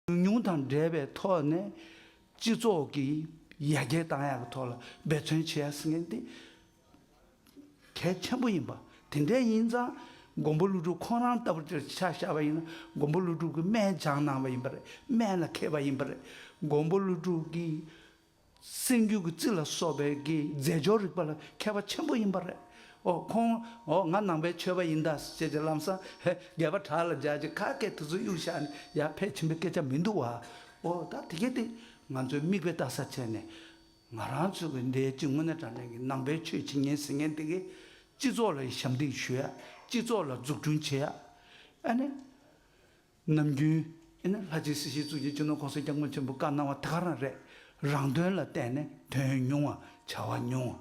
ཉུང་ཉུང་དང་འབྲེལ་བའི་ཐོག་ནས་སྤྱི་ཚོགས་ཀྱི་ཡར་རྒྱས་དང་ཡག་གི་ཐོག་ལ་འབད་བརྩོན་བྱེད་ཡ་སྲིད་མཁན་དེ་གལ་ཆེན་པོ་ཡིན་པ། དེ་འདྲས་ཡིན་ཙང་མགོན་པོ་ཀླུ་སྒྲུབ་ཁོང་རང་ལྟ་བུར་དེར་ཆ་བཞག་པ་ཡིན་ན་མགོན་པོ་ཀླུ་སྒྲུབ་ཀྱི་སྨད་སྦྱངས་གནང་བ་ཡིན་པ་རེད་སྨད་ལ་མཁས་པ་ཡིན་པ་རེད་མགོན་པོ་ཀླུ་སྒྲུབ་ཀྱི་སེམས་རྒྱུད་ཀྱི་རྩི་ལ་སོགས་པའི་ཀྱི་རྫས་སྦྱོར་རིག་པ་ལ་མཁས་པ་ཆེན་པོ་ཡིན་པ་རེད། ཨོ་ཁོང་ཨོ་ང་ནང་པའི་མཆོད་པ་ཡིན་ད་ཅེས་ཀྱི་ལམ་སང་ཧེ་རྒྱལ་བ་བྲག་ལ་སྦྱར་ཅིག་ཁ་སྐད་དེ་ཚོ་གཡུག་བཞག་ནས་ཡར་ཕེབས་ཕྱིན་པའི་སྐད་ཆ་མི་འདུག་བ། ཨོ་ད་དེ་གལ་ཏེ་ང་ཚོས་དམིགས་པའི་ལྟ་ས་བྱས་ནས། ང་རང་ཚོས་ཀྱི་འདས་ཅི་སྔོན་ནས་དྲང་བདེན་གྱི་ནང་པའི་ཆོས་བྱེད་ཉན་ཟེར་མཁན་དེ་གས་སྤྱི་ཚོགས་ལ་ཞབས་འདེགས་ཞུ་ཡ། སྤྱི་ཚོགས་ལ་འཛུགས་སྐྲུན་བྱེད་ཡ། ཨ་ནི། ནམ་རྒྱུན། ཨེ་ན་ལྷ་རྗེའི་སྲིད་ཞིའི་གཙུག་གི་སྤྱི་ནོར་ཁོང་སེང་སྐྱབས་མགོན་ཆེན་པོ་བཀའ་གནང་བ་ད་ག་རང་རེད། རང་དོན་ལ་བལྟས་ནས་དོན་ཉུང་བ་བྱ་བ་ཉུང་བ།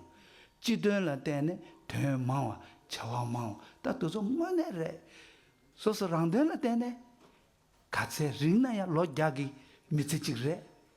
སྤྱི་དོན་ལ་བལྟས་ནས་དོན་མང་བ་བྱ་བ་མང་བ་ད་དུ་ཚོ་དངོས་གནས་རེད། སོ་སོ་རང་དོན་ལ་བལྟས་ནས། ག་ཚད་རིང་ན་ཡང་ལོ་བརྒྱ་གི་མི་ཚེ་གཅིག་རེད།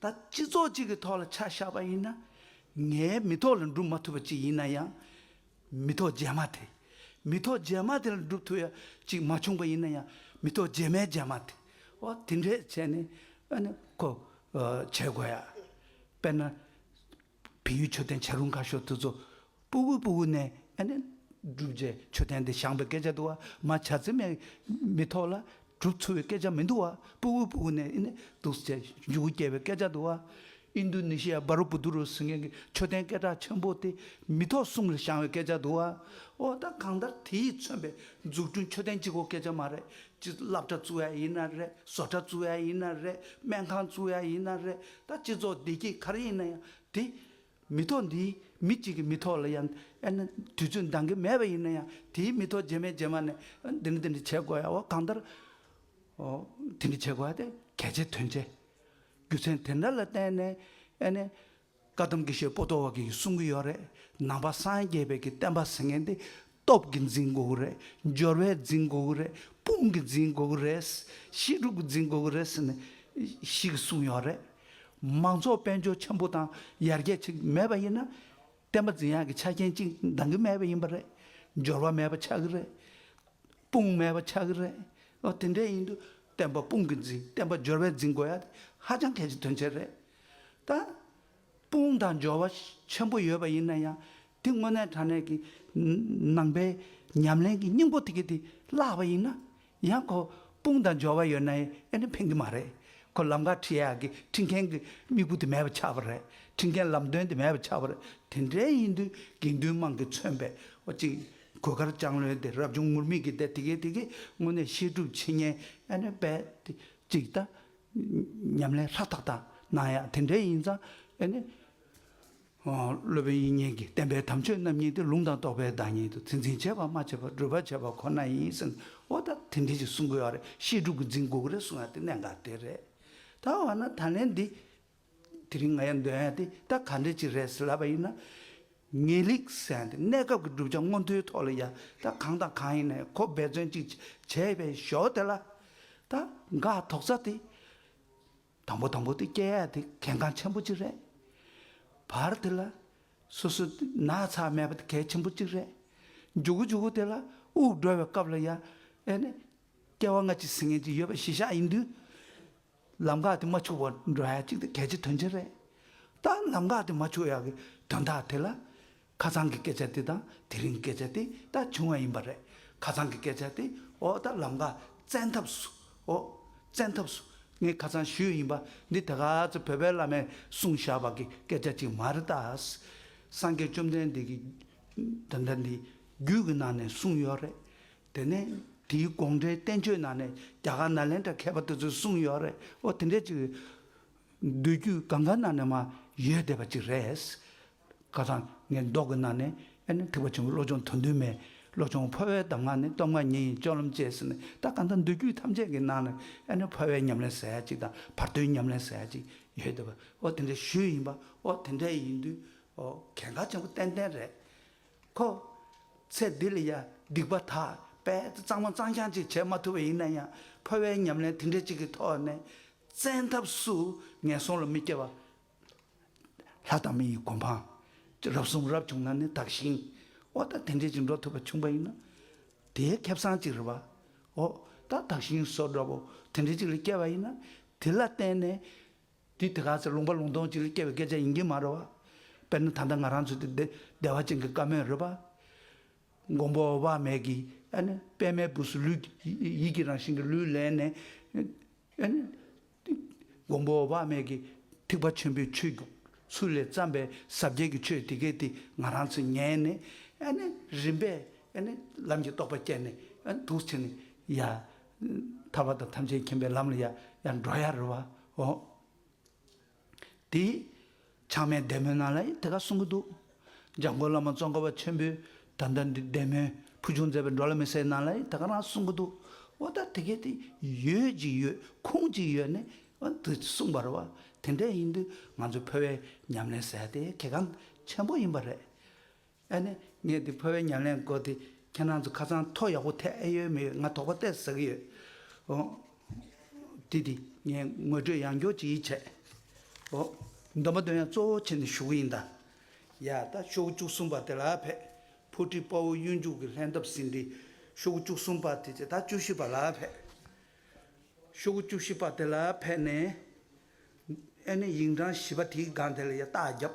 ད་སྤྱི་ཚོགས་གཅིག་གི་ཐོག་ལ་ཆ་བཞག་པ་ཡིན་ན། ངའི་མི་ཐོག་ལ་འགྲུབ་མ་ཐུབ་པ་ཅིག་ཡིན་ན་ཡང། མི་ཐོག་རྗེས་མ་དེ། མི་ཐོག་རྗེས་མ་དེ་ལ་འགྲུབ་ཐུབ་ཡ་ཅིག་མ་བྱུང་པ་ཡིན་ན་ཡང་མི་ཐོག་རྗེས་མའི་རྗེས་མ་དེ། འོ་དེ་འདྲས་བྱས་ནས་ཨ་ནི་ཁོ་བྱེད་དགོས་ཡ། དཔེར་ན། བལ་ཡུལ་མཆོད་རྟེན་བྱ་རུང་ཁ་ཤོ་ཐུ་ཚོ། སྤུ་བོའི་སྤུ་བོ་ནས། སྒྲུབ་རྗེས་མཆོད་རྟེན་འདི་བཤངས་པའི་སྐད་ཆ་དུ་བ་མ་བྱ་ཚེ་མེད་མི་ཐོག་ལ། གྲུབ་ཚུལ་བའི་སྐད་ཆ་མི་འདུག་བ་སྤུ་བོའི་སྤུ་བོ་ནས། དུག་སེལ་འཇུག་གུ་སྐྱེ་བའི་སྐད་ཆ་དུ་བ། ཨིན་དུ་ནི་ཤི་ཡ་སྦ་རུ་པུ་དུ་རུ་སི་ངན་གྱི་མཆོད་རྟེན་སྐད་གྲགས་ཆེན་པོ་དེ་མི་ཐོག་གསུམ་ལ་བཤངས་བའི་སྐད་ཆ་དུ་བ། འོ་ད་གང་ལྟར་དེ་ཡིས་མཚོན་པའི་འཛུགས་སྐྲུན་མཆོད་རྟེན་གཅིག་གོ་སྐད་ཆ་མ་རེད། ཅི་བསླབ་གྲྭ་བཙུགས་ཡ་ཡིན་ན་རེད་བཟོ་གྲྭ་བཙུགས་ཡ་ཡིན་ན་རེད་སྨན་ཁང་བཙུགས་ཡ་ཡིན་ན་རེད་ད་སྤྱི་ཚོགས་བདེ་སྐྱིད་གར་ཡིན་ན་ཡང་དེ། མི་ཐོག་འདིའི་མི་གཅིག་གི་མི་ཐོག་ལ་ཡང་ཨེ་ན་དུས་ཚོད་འདང་གི་མེད་པ་ཡིན་ན་ཡང་དེའི་མི་ཐོག་རྗེས་མའི་རྗེས་མ་ནས་འདི་འདྲ་འདི་འདྲ་བྱེད་དགོས་ཡ་བ་གང་ལྟར། དེ་འདྲ་བྱེད་དགོས་ཡ་དེ་གལ་ཆེ་དོན་ཆེ། རྒྱུ་མཚན་དེ་འདྲ་ལ་བརྟེན་ནས་ཨེ་ནས། བཀའ་གདམས་དགེ་བཤེས་པོ་ཏོ་བ་གིས་གསུང་གི་ཡོད་རེད་ནང་པ་སངས་རྒྱས་པའི་གི་བསྟན་པ་ཟེར་མཁན་དེ་སྟོབས་ཀྱི་འཛིན་འགུགས་རེད་སྦྱོར་བའི་འཛིན་འགུགས་རེད་དཔུང་གི་འཛིན་འགུགས་རེད། ཞི་ཕྲུག་གི་འཛིན་འགུགས་རེད་ཟེར་ནས་ཞིག་གསུངས་ཡོད་རེད། མང་ཚོགས་དཔལ་འབྱོར་ཆེན་པོ་དང་ཡར་རྒྱས་ཆགས་ཀྱི་མེད་པ་ཡིན་ན། བསྟན་པ་འཛིན་ཡག་གི་ཆ་རྐྱེན་གཅིག་འདང་གི་མེད་པ་ཡིན་པ་རེད། སྦྱོར་བ་མེད་པ་ཆགས་ཀྱི་རེད། དཔུང་མེད་པ་ཆགས་ཀྱི་རེད། ཨོ་དེ་འདྲས་ཡིན་དུས་བསྟན་པ་དཔུང་གི་འཛིན་བསྟན་པ་སྦྱོར་བའི་འཛིན་དགོས་ཡ་དེ་ཧ་ཅང་གལ་ཆེ་དོན་ཆེ་རེད། ད། དཔུང་དང་འབྱོར་བ་ཆེན་པོ་ཡོད་པ་ཡིན་ན་ཡང་དེ་དངོས་གནས་དྲང་གནས་ཀྱི་ནང་པའི་ཉམས་ལེན་གྱི་སྙིང་པོ་དེ་གི་དེ་བརླག་པ་ཡིན་ན་ཡང་ཁོ་དཔུང་དང་འབྱོར་བ་ཡོད་ནའི་ཨེ་ནི་ཕན་གི་མ་རེད་ཁོ་ལམ་ཁ་ཁྲིད་ཡག་གི་ཁྲིད་མཁན་གྱི་དམིགས་བུ་དེ་མེད་པ་ཆགས་པ་རེད་ཁྲིད་མཁན་ལམ་སྟོན་དེ་མེད་པ་ཆགས་པ་རེད་དེ་འདྲའི་ཡིན་དུས་དགེ་འདུན་དམངས་ཀྱི་མཚོན་པའི་བ་ཅིག་གོས་དཀར་ལྕང་ལོའི་དེ་རབ་བྱུང་ངུར་སྨྲིག་གི་དེ་དེ་གི་དེ་གི་དངོས་གནས་བཤད་སྒྲུབ་བྱེད་ཉན་ཨེ་ནི་བས་དེ་གཅིག་ད་ཉམས་ལེན་ལྷ་དག་དང་གནང་ཡག་དེ་འདྲའི་ཡིན་ཙང་ཨེ་ནི། སློབ་དཔོན་དབྱིག་གཉེན་གྱིས་བསྟན་པའི་དམ་ཆོས་རྣམ་གཉིས་དེ་ལུང་དང་རྟོགས་པའི་བདག་ཉིད་དུ་ཚིག་འཛིན་བྱེད་པར་མ་བྱས་པར་སྒྲུབ་པར་བྱེད་པ་ཁོ་ན་ཡིན་གསུངས་ཨོ་ད་དེ་འདྲའི་ཞིག་གསུང་དགོས་ཡག་རེད་བཤད་སྒྲུབ་ཀྱི་འཛིན་འགུག་རེད་གསུངས་ཡག་དེ་གནད་འགག་དེ་རེད། ད་འོ་ན་ད་ལན་འདི། དེ་རིང་ང་ཡང་འདོན་ཡ་དེ་ད་ག་འདྲས་ཅིག་རེད་ཟེར་ལབ་པ་ཡིན་ན། ངེས་ལེགས་གསལ་འདི་གནས་སྐབས་ཀྱི་བསྒྲུབ་བྱ་མངོན་མཐོའི་ཐོག་ལ་ཡ་ད་གང་དང་གང་ཡིན་ནས་གོ་འབད་བརྩོན་ཅིག་བྱས་པའི་ཞོར་དེ་ལ། ད་འགག་དོགས་རྩ་དེ། དང་པོ་དང་པོ་དེ་སྐྱེ་ཡ་དེ་གལ་འགངས་ཆེན་པོ་ཅིག་རེད། བར་དེ་ལ། སོ་སོ་དེ་ན་ཚ་མེད་པ་དེ་གལ་ཆེན་པོ་ཅིག་རེད། འཇུག་གོ་འཇུག་གོ་དེ་ལ་དབུགས་འགྲོ་བའི་སྐབས་ལ་ཡ། ཨེ་ནས། སྐྱེ་བ་སྔ་ཕྱི་ཟིན་ངེས་ཅིག་ཡོད་པ་གཞི་བཞག་ཡིན་དུས། ལམ་ཁ་དེ་མ་འཆུགས་པར་འགྲོ་ཡག་ཅིག་དེ་གལ་ཆེ་དོན་ཆེ་རེད། ད་ལམ་ཁ་དེ་མ་འཆུགས་ཡག་གི་དོན་དག་དེ་ལ། ཁ་ཚང་གི་སྐད་ཆ་དེ་དང་དེ་རིང་གི་སྐད་ཆ་དེ་ད་བྱུང་བ་ཡིན་པ་རེད། ཁ་ཚང་གི་སྐད་ཆ་དེ་འོག་ད་ལམ་ཁ་བཙན་ཐབས་སུ་འོ། བཙན་ཐབས་སུ་ངས་ཁ་ཚང་ཞུས་ཡིན་པ་འདི་ད་ག་ཚོད་བོད་པའི་བླ་མས་གསུངས་བཞག་པ་གི་སྐད་ཆ་ཅིག་མ་རེད་ད། སངས་རྒྱས་བཅོམ་ལྡན་འདས་ཀྱི། དོན་དག་འདི་རྒྱུད་ཀྱི་ནང་ནས་གསུངས་ཡོད་རེད། དེ་ནས་དེའི་དགོངས་འགྲེལ་བསྟན་བཅོས་ནང་ནས་རྒྱ་གར་ནཱ་ལེནྡྲ་མཁས་པ་དེ་ཚོས་གསུངས་ཡོད་རེད་ཨོ་དེ་འདྲས་ཅིག་རེད། མདོ་རྒྱུད་གང་གང་ནང་ནས་མ་ཡོད་བསྡད་པ་ཅིག་རེད། ཁ་སང་ངའི་མདོག་གི་ནང་ནས་ཨེ་ནས་ཐེག་པ་ཆེན་པོ་བློ་སྦྱོང་དོན་བདུན་མའི་བློ་སྦྱོང་འཕོ་བའི་གདམས་ངག་ནི་སྟོབས་ལྔ་ཉིད་ཡིན་སྤྱོད་ལམ་བཅས་ཟེར་ནས་ད་ག་ད་མདོ་རྒྱུད་ཐམས་ཅད་ཀྱི་ནང་ནས་ཨེ་ནས་འཕོ་བའི་ཉམས་ལེན་ཟེར་ཡ་ཅིག་དང་བར་དོའི་ཉམས་ལེན་ཟེར་ཡ་ཅིག་ཡོད་བསྡད་པ་ཨོ་དེ་འདྲས་ཞུས་ཡིན་པ་ཨོ་དེ་འདྲས་ཡིན་དུས་ཨོ་གལ་འགག་ཆེན་པོ་ཏན་ཏན་རེད། ཁོ། ཚེ་འདི་ལ་ཡ་སྡིག་པ་དག་པས་གཙང་མ་གཙང་རྐྱང་ཅིག་བྱེད་མ་ཐུབ་པ་ཡིན་ན་ཡང་ཕོ་བའི་ཉམས་ལེན་དེ་འདྲ་ཅིག་གི་ཐོག་ནས་བཙན་ཐབས་སུ་ངན་སོང་ལ་མི་སྐྱེ་བ། ལྷ་དང་མི་ཡི་གོ་འཕང། རབ་གསུངས་རབ་བྱུང་ན་ནི་དག་ཞིང། ཨོ་ད་དེ་འདྲས་ཅིག་འགྲོ་ཐུབ་པ་བྱུང་བ་ཡིན་ན། དེའི་ཁེབས་སངས་ཅིག་རེད་པ། ཨོ་ད་དག་ཞིང་སོགས་འདྲ་པོ་དེ་འདྲས་ཅིག་ལ་སྐྱེ་བ་ཡིན་ན་དེ་ལ་བརྟེན་ནས་དེ་དེ་ག་ཟེར་ལུང་པ་ལུང་སྟོང་གཅིག་ལས་སྐྱེ་བའི་སྐད་ཆ་ཡིན་གྱི་མ་རེད་བ། དཔེར་ན་ད་ལྟ་ང་རང་ཚོ་དེ་བདེ་བདེ་བ་ཅན་གྱི་བཀའ་མོལ་རེད་བ། མགོན་པོ་བ་མེད་ཀྱི་ཨ་ནི་པད་མའི་བུ་སུ་ལུས་ཡིད་ཀྱི་རང་བཞིན་གྱི་ལུས་ལེན་ནས། ཨ་ནི། མགོན་པོ་བ་མེད་ཀྱི་ཐེག་པ་ཆེན་པོའི་ཆོས་རྒྱུགས་ཚུལ་ལས་བརྩམས་པའི་ཟབ་རྒྱས་ཀྱི་ཆོས་དེ་གས་དེ་ང་རང་ཚོས་ཉན་ནས་ཨ་ནི་རིམ་པས་ཨ་ནི་ལམ་གྱི་རྟོགས་པ་སྐྱེས་ནས་ཨ་ནི་དུག་ཚེ་ནི་ཡ། ཐར་བ་དང་ཐམས་ཅད་མཁྱེན་པའི་ལམ་ལ་ཡང་ཡང་འགྲོ་ཡ་རུ་བ་འོ། དེ། ཆགས་མེད་བདེ་མོའི་ནང་ལ་ཡང་དེ་ག་གསུང་གི་འདུག། འཇམ་མགོན་བླ་མ་གཙོ་འཁོར་བ་ཆེན་པོས་ད་ལྟ་འདི་བདེ་མོའི་ཕུལ་བྱུང་མཛད་པའི་འགྲོ་ལ་མི་ཟེར་ནང་ལ་ཡང་དེ་ག་རང་གསུང་གི་འདུག་འོ་ད་དེ་གས་དེ་ཡོད་ཅིག་ཡོད་ཁུངས་ཅིག་ཡོད་ནས་འོན་ཏེ་གསུངས་པ་རུ་བ་དེ་འདྲས་ཡིན་དུས་ང་ཚོས་ཕོ་བའི་ཉམས་ལེན་ཟེར་དེ་གལ་འགངས་ཆེན་པོ་ཡིན་པ་རེད། ཨ་ནི་ངས་འདི་ཕོ་བའི་ཉམས་ལེན་དགོས་ཏེ་ཁྱེད་རང་ཚོ་ཁ་ཚང་ཐོག་ཡག་པོ་ཐེག་ཨེ་ཡོད་མི་ཡོད་ང་དོགས་པ་གཏད་ཟ་གི་ཡོད། ཨོ། དེ་དེ་ངས་ངོས་སྤྲོད་ཡང་འགྱོགས་ཅིག་ཡིད་ཆད། ཨོ། འདོན་པ་འདོན་ཡ་གཙོ་བོ་ཁྱེད་ནས་ཞུ་གི་ཡིན་ད། ཡ་ད་ཤོག་བཅུ་གསུམ་པ་དེ་ལ་ཕེབས། ཕུ་ཁྲི་དཔའ་བོ་གཡུ་མཇུག་གི་ལྷན་ཐབས་ཟིན་ཏེ། ཤོག་བུ་བཅུ་གསུམ་པ་དེ་ད་བཅུ་བཞི་པ་ལ་ཕེབས། ཤོག་བུ་བཅུ་བཞི་པ་དེ་ལ་ཕེབས་ནས། ཨེ་ནི་ཡིག་འབྲང་བཞི་པ་དེའི་སྒང་དེ་ལ་ཡང་རྟགས་བརྒྱབ།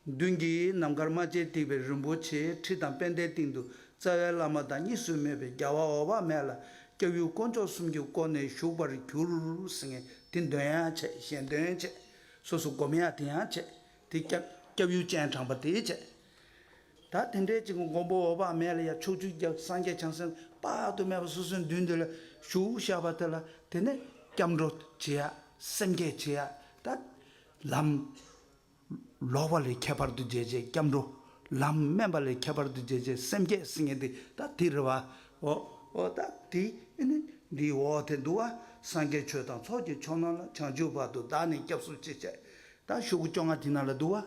མདུན་གྱི་ནམ་མཁར་རྨ་བྱའི་སྟེགས་པའི་རིན་པོ་ཆེའི་ཁྲི་དང་པད་ཟླའི་སྟེང་དུ་རྩ་བའི་བླ་མ་དང་གཉིས་སུ་མེད་པའི་རྒྱལ་བ་འོག་བར་མེད་ལ་སྐྱབས་ཡུལ་དཀོན་མཆོག་གསུམ་གྱིས་བསྐོར་ནས་བཞུགས་པར་གྱུར། སེང་གེ་འདི་འདོན་ཡང་བྱེད་གཞན་འདོན་བྱེད། སོ་སོ་བསྒོམ་ཡང་དེ་ཡང་བྱེད་དེ། སྐྱབས་ཡུལ་སྤྱན་དྲངས་པ་དེས་བྱེད། ད་དེ་འདྲའི་ཅིག་མགོན་པོ་འོད་དཔག་མེད་ལ་ཡང་ཕྱོགས་བཅུའི་རྒྱལ་བ་སངས་རྒྱས་བྱང་སེམས་དཔག་ཏུ་མེད་པ་སོ་སོའི་མདུན་དེ་ལ་བཞུགས་བཞག་པ་དེ་ལ་དེ་ནས་སྐྱབས་འགྲོ་བྱེད་ཡ། སེམས་བསྐྱེད་བྱེད་ཡ། ད་ལམ། ལོག་པ་ལས་ཁྱད་པར་དུ་འབྱེད་བྱེད་སྐྱབས་འགྲོ། ལམ་དམན་པ་ལས་ཁྱད་པར་དུ་འབྱེད་བྱེད་སེམས་བསྐྱེད་སེམས་བསྐྱེད་འདི་ད་དེ་རེད་བ། འོ། འོ་ད་དེ་ནི་འདིའི་འོག་དེ་འདུག་ཨ། སངས་རྒྱས་ཆོས་དང་ཚོགས་ཀྱི་མཆོག་རྣམས་ལ་བྱང་ཆུབ་བར་དུ་བདག་ནི་སྐྱབས་སུ་མཆི་བྱ། ད་བཞུགས་བཅོ་ལྔ་དེ་ན་ལ་འདུག་ཨ།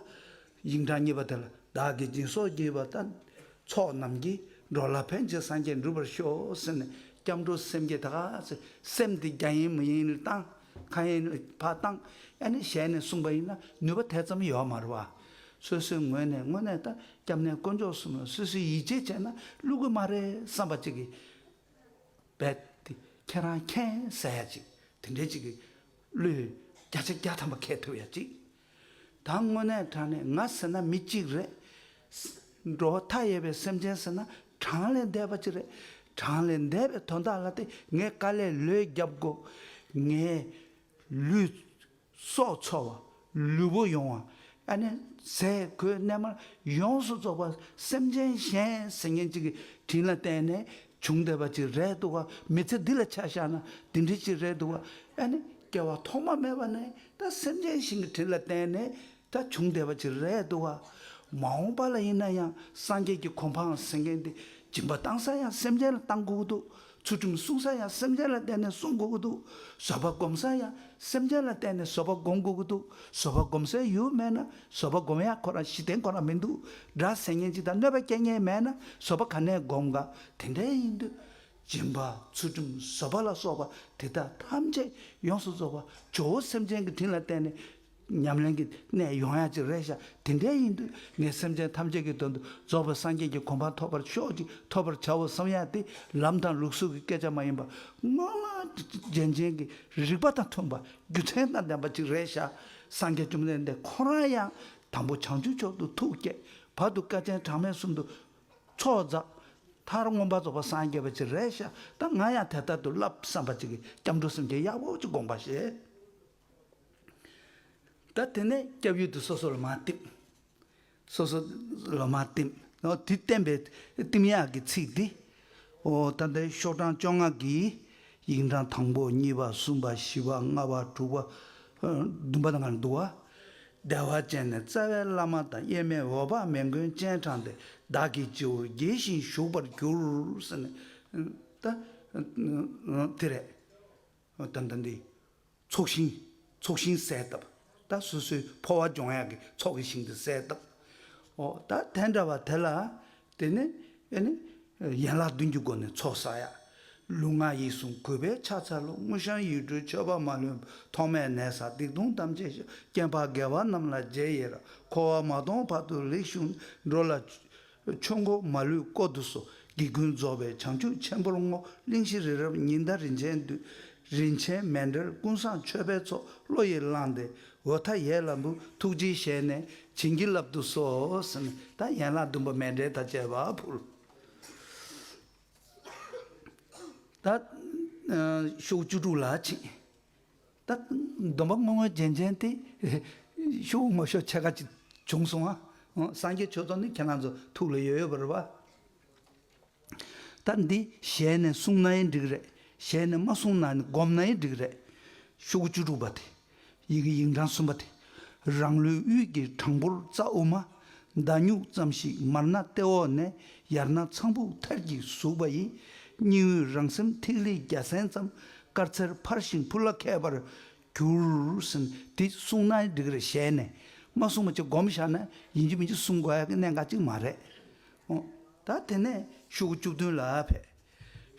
དབྱིངས་གྲགས་བརྙེས་པ་དེ་ལ་བདག་གིས་སྦྱིན་སོགས་བགྱིས་པ་ལྟར། ཚོགས་རྣམས་ཀྱིས་འགྲོ་ལ་ཕན་བྱེད་སངས་རྒྱས་འགྲུབ་པར་ཤོག་ཟེར་ནས་སྐྱབས་འགྲོ་སེམས་བསྐྱེད་དག་ཟེར་སེམས་དེ་རྒྱ་ཡན་མི་ཡན་ལ་བཏང། ཁ་ཡན་བར་བཏང། ཡང་ནས་ཞལ་ནས་གསུངས་པ་ཡིན་ན་ནུས་པ་དེ་ཙམ་ཡོད་མ་རུང་བ། སོ་སོའི་ངོས་ནས་དངོས་གནས་ད་སྐྱབས་གནས་དཀོན་མཆོག་གསུམ་ལ་སུས་སུས་ཡིད་ཆེས་བྱས་ན་བསླུ་གི་མ་རེད་བསམ་པ་ཅིག་གིས། རྦད་དེ་ཁྱེད་རང་མཁྱེན་གསལ་ཡ་ཅིག་དེ་འདྲའི་ཅིག་གིས་བསླུས། བརྒྱ་ཆ་བརྒྱ་ཐམ་པ་ཁས་ཐོབ་ཡ་ཅིག། ད་དངོས་གནས་དྲང་ནས་ང་ཟེར་ན་མི་གཅིག་རེད། འགྲོ་བ་མཐའ་ཡས་པའི་སེམས་ཅན་ཟེར་ན་དྲང་ལས་འདས་པ་གཅིག་རེད། དྲང་ལས་འདས་པའི་དོན་དག་ལ་དེ་ངས་དཀའ་ལས་ལོས་བརྒྱབ་དགོས། ངས་ལུས། སྲོག་འཚོ་བ། ལུས་པོ་ཡོང་བ། ཨ་ནེ། ཟས་གོས་གནས་མལ་ཡོངས་སུ་རྫོགས་པ་སེམས་ཅན་གཞན་ཟེར་མཁན་གཅིག་གི་དྲིན་ལ་བརྟེན་ནས་བྱུང་བདེ་བ་ཅི་རེད་འདུག་ག་མི་ཚེ་འདི་ལ་ཆ་བཞག་ན་དེ་འདྲི་ཅི་རེད་འདུག་ག་ཨ་ནི་སྐྱེ་བ་ཐོག་མ་མེད་པ་ནས་ད་སེམས་ཅན་ཞིང་གི་དྲིན་ལ་བརྟེན་ནས་ད་བྱུང་བདེ་བ་ཅི་རེད་འདུག་ག། མ་འོངས་པ་ལ་ཡིན་ན་ཡང་སངས་རྒྱས་ཀྱི་གོ་འཕང་ཟེར་མཁན་དེ་སྦྱིན་པ་བཏང་ས་ཡང་སེམས་ཅན་ལ་བཏང་དགོས་ཀྱི་འདུག་ཚུལ་ཁྲིམས་བསྲུང་ས་ཡང་སེམས་ཅན་ལ་བརྟེན་ནས་བསྲུང་དགོས་ཀྱི་འདུག་བཟོད་པ་སྒོམ་ས་ཡང་སེམས་ཅན་ལ་བརྟེན་ནས་བཟོད་པ་སྒོམ་དགོས་ཀྱི་འདུག་བཟོད་པ་སྒོམ་སའི་ཡུལ་མེད་ན་བཟོད་པ་སྒོམ་ཡག་ཁོ་རང་གཞི་རྟེན་གོ་ན་མི་འདུག་སྒྲ་ཟེར་ཉན་ཅིག་དང་གནོད་པའི་རྐྱེན་ངན་མེད་ན་བཟོད་པ་ག་ནས་སྒོམ་དགའ་དེ་འདྲའི་ཡིན་དུས། སྦྱིན་པ་ཚུལ་ཁྲིམས་བཟོད་པ་ལ་སོགས་པ་དེ་དག་ཐམས་ཅད་ཡོངས་སུ་རྫོགས་པ་ཇོ་བོ་སེམས་ཅན་གྱི་དྲིན་ལ་བརྟེན་ནས། ཉམས་ལེན་གྱི་གནས་ཡོང་ཡག་ཅིག་རེད་ཤག་དེ་འདྲའི་ཡིན་དུས་ངས་སེམས་ཅན་ཐམས་ཅད་ཀྱི་དོན་དུ་རྫོགས་པའི་སངས་རྒྱས་ཀྱི་གོ་འཕང་ཐོབ་པར་ཤོག་ཅིག་ཐོབ་པར་བྱའོ་བསམ་ཡག་དེ་ལམ་དང་ལུགས་སྲོལ་གྱི་སྐད་ཆ་མ་ཡིན་པར་སྔོན་རྒྱན་ཅན་གྱི་རིགས་པ་དང་མཐུན་པ་རྒྱུ་མཚན་དང་ལྡན་པ་ཅིག་རེད་ཤག་སངས་རྒྱས་བཅོམ་ལྡན་འདས་ཁོ་རང་ཡང་དང་པོ་བྱང་ཆུབ་མཆོག་ཏུ་ཐུགས་བསྐྱེད་བར་དུ་སྐལ་ཅན་གྲངས་མེད་གསུམ་དུ་ཚོགས་བསགས། མཐར་མངོན་པར་རྫོགས་པར་སངས་རྒྱས་པ་ཅི་རེ་ཤ་སྟག་ང་ཡང་དེ་ལྟར་དུ་བསླབ་བསམ་པ་ཅིག་གིས་སྐྱབས་འགྲོ་སེམས་ཅན་གཡག་འོག་གཅིག་དགོངས་པར་བཞེད། ད་དེ་ནས་སྐྱབས་ཡུལ་དུ་སོ་སོ་ལ་མ་བཏེགས། སོ་སོ་ལོ་མ་བསྟིམ། དུས་བསྟན་པའི་བསྟིམ་ཡག་གི་ཚིག་འདི། ད་ལྟའི་ཤོག་གྲངས་བཅོ་ལྔ་གི། དབྱིངས་གྲངས་དང་པོ་གཉིས་པ་གསུམ་པ་བཞི་པ་ལྔ་བ་དྲུག་པ། བདུན་པ་དང་བསྡུ་བ། བདེ་བ་ཅན་ནས་རྩ་བའི་བླ་མ་དང་དབྱེར་མེད་འོད་དཔག་མེད་མགོན་སྤྱན་དྲངས་ཏེ་བདག་གི་སྤྱི་བོར་དགྱེས་བཞིན་བཞུགས་པར་གྱུར། དེ་རེད། དོན་དམ་པའི་ཚོགས་ཞིང་ཚོགས་ཞིང་གསལ་བཏབ། ད་སོ་སོའི་འཕོ་བ་སྦྱོང་ཡག་གི་ཚོགས་ཀྱི་ཞིང་དུ་གསལ་བཏབ། ཨོ་ད་དེ་འདྲ་བ་དེ་ལ་དེ་ནི་ཨེ་ནི། ཡན་ལག་བདུན་གྱི་སྒོ་ནས་ཚོགས་བསག་ཡ། ལུས་ངག་ཡིད་གསུམ་གུས་པས་ཕྱག་འཚལ་ལོ་དངུལ་བཤང་ཡིག་འབྲུའི་མཆོད་པ་མ་ལོན་ཐོག་མས་ནད་བསགས་སྡིག་ལྟུང་ཐམས་ཅད་ཞག་སྐྱེངས་བག་འགས་པ་རྣམས་ལ་རྗེས་ཡེར་འཁོར་བ་མ་སྟོངས་བར་དུ་རིགས་གཞུང་འགྲོ་ལ། ཆོས་འཁོར་མ་ལུས་བསྐོར་དུ་གསོལ། དགེ་ཀུན་རྫོགས་པའི་བྱང་ཆུབ་ཆེན་པོར་བསྔོ། གླིང་བཞི་རི་རབ་ཉི་ཟླ་རིན་ཆེན་འདུས། རིན་ཆེན་མེ་འབྲས་ཀུན་བཟང་མཆོད་པའི་ཚོགས་བློ་ཡིས་བླངས་ཏེ། འོད་མཐའ་ཡས་ལ་འབུལ་ཐུགས་རྗེའི་ཞལ་ནས་བྱིན་གྱིས་བརླབ་ཏུ་གསོལ། དང་ཡན་ལག་བདུན་པ་མེ་འབྲས་དང་བཅས་པ་ཕུལ། ཞུགས་བཅུ་དྲུག་ལ་བྱིན། སྡོམ་པ་སྔོན་དངོས་རྗེན་ཅན་ཏེ། ཤོག་བུ་མོ་ཤོག་ཕྱེད་ཀ་ཅིག་བྱུང་སོང་ང། སངས་རྒྱས་ཆོས་ཚོགས་ནི་ཁྱེད་རང་ཚོ་ཐུགས་ལ་ཡོད་ཡོད་པར་བ། ད་འདི་ཞལ་ནས་གསུངས་ན་ཡི་འགྲིག་རེད། ཞལ་ནས་མ་གསུངས་ན་ནི་སྒོམ་ན་ཡི་འགྲིག་རེད། ཤོག་བུ་བཅུ་དྲུག་པ་དེ། ཡི་གེ་ཡིག་འབྲང་གསུམ་པ་དེ། རང་ལུས་དབུས་ཀྱི་དྲང་པོར་རྩ་དབུ་མ། མདའ་སྨྱུག་ཙམ་ཞིག་མར་སྣ་ལྟེ་འོག་ནས་ཡར་སྣ་ཚངས་བུག་མཐར་གྱིས་ཟུག་པ་ཡི། སྙིང་དབུས་རང་སེམས་ཐིག་ལེ་རྒྱ་སྲན་ཙམ་དཀར་མཚེར་འཕར་ཞིང་འཕུར་ལ་ཁད་པར་གྱུར། འདི་གསུང་ན་འགྲིག་རེད་ཞལ་ནས་མ་གསུང་བ་ཅིག་སྒོམ་བཞག་ན་ཡིན་གྱི་མིན་གྱི་གསུང་དགོས་ཀྱི་གནད་འགག་ཅིག་མ་རེད། ད་དེ་ནས་ཤུག་བཅུ་བདུན་ལ་ཕེབས།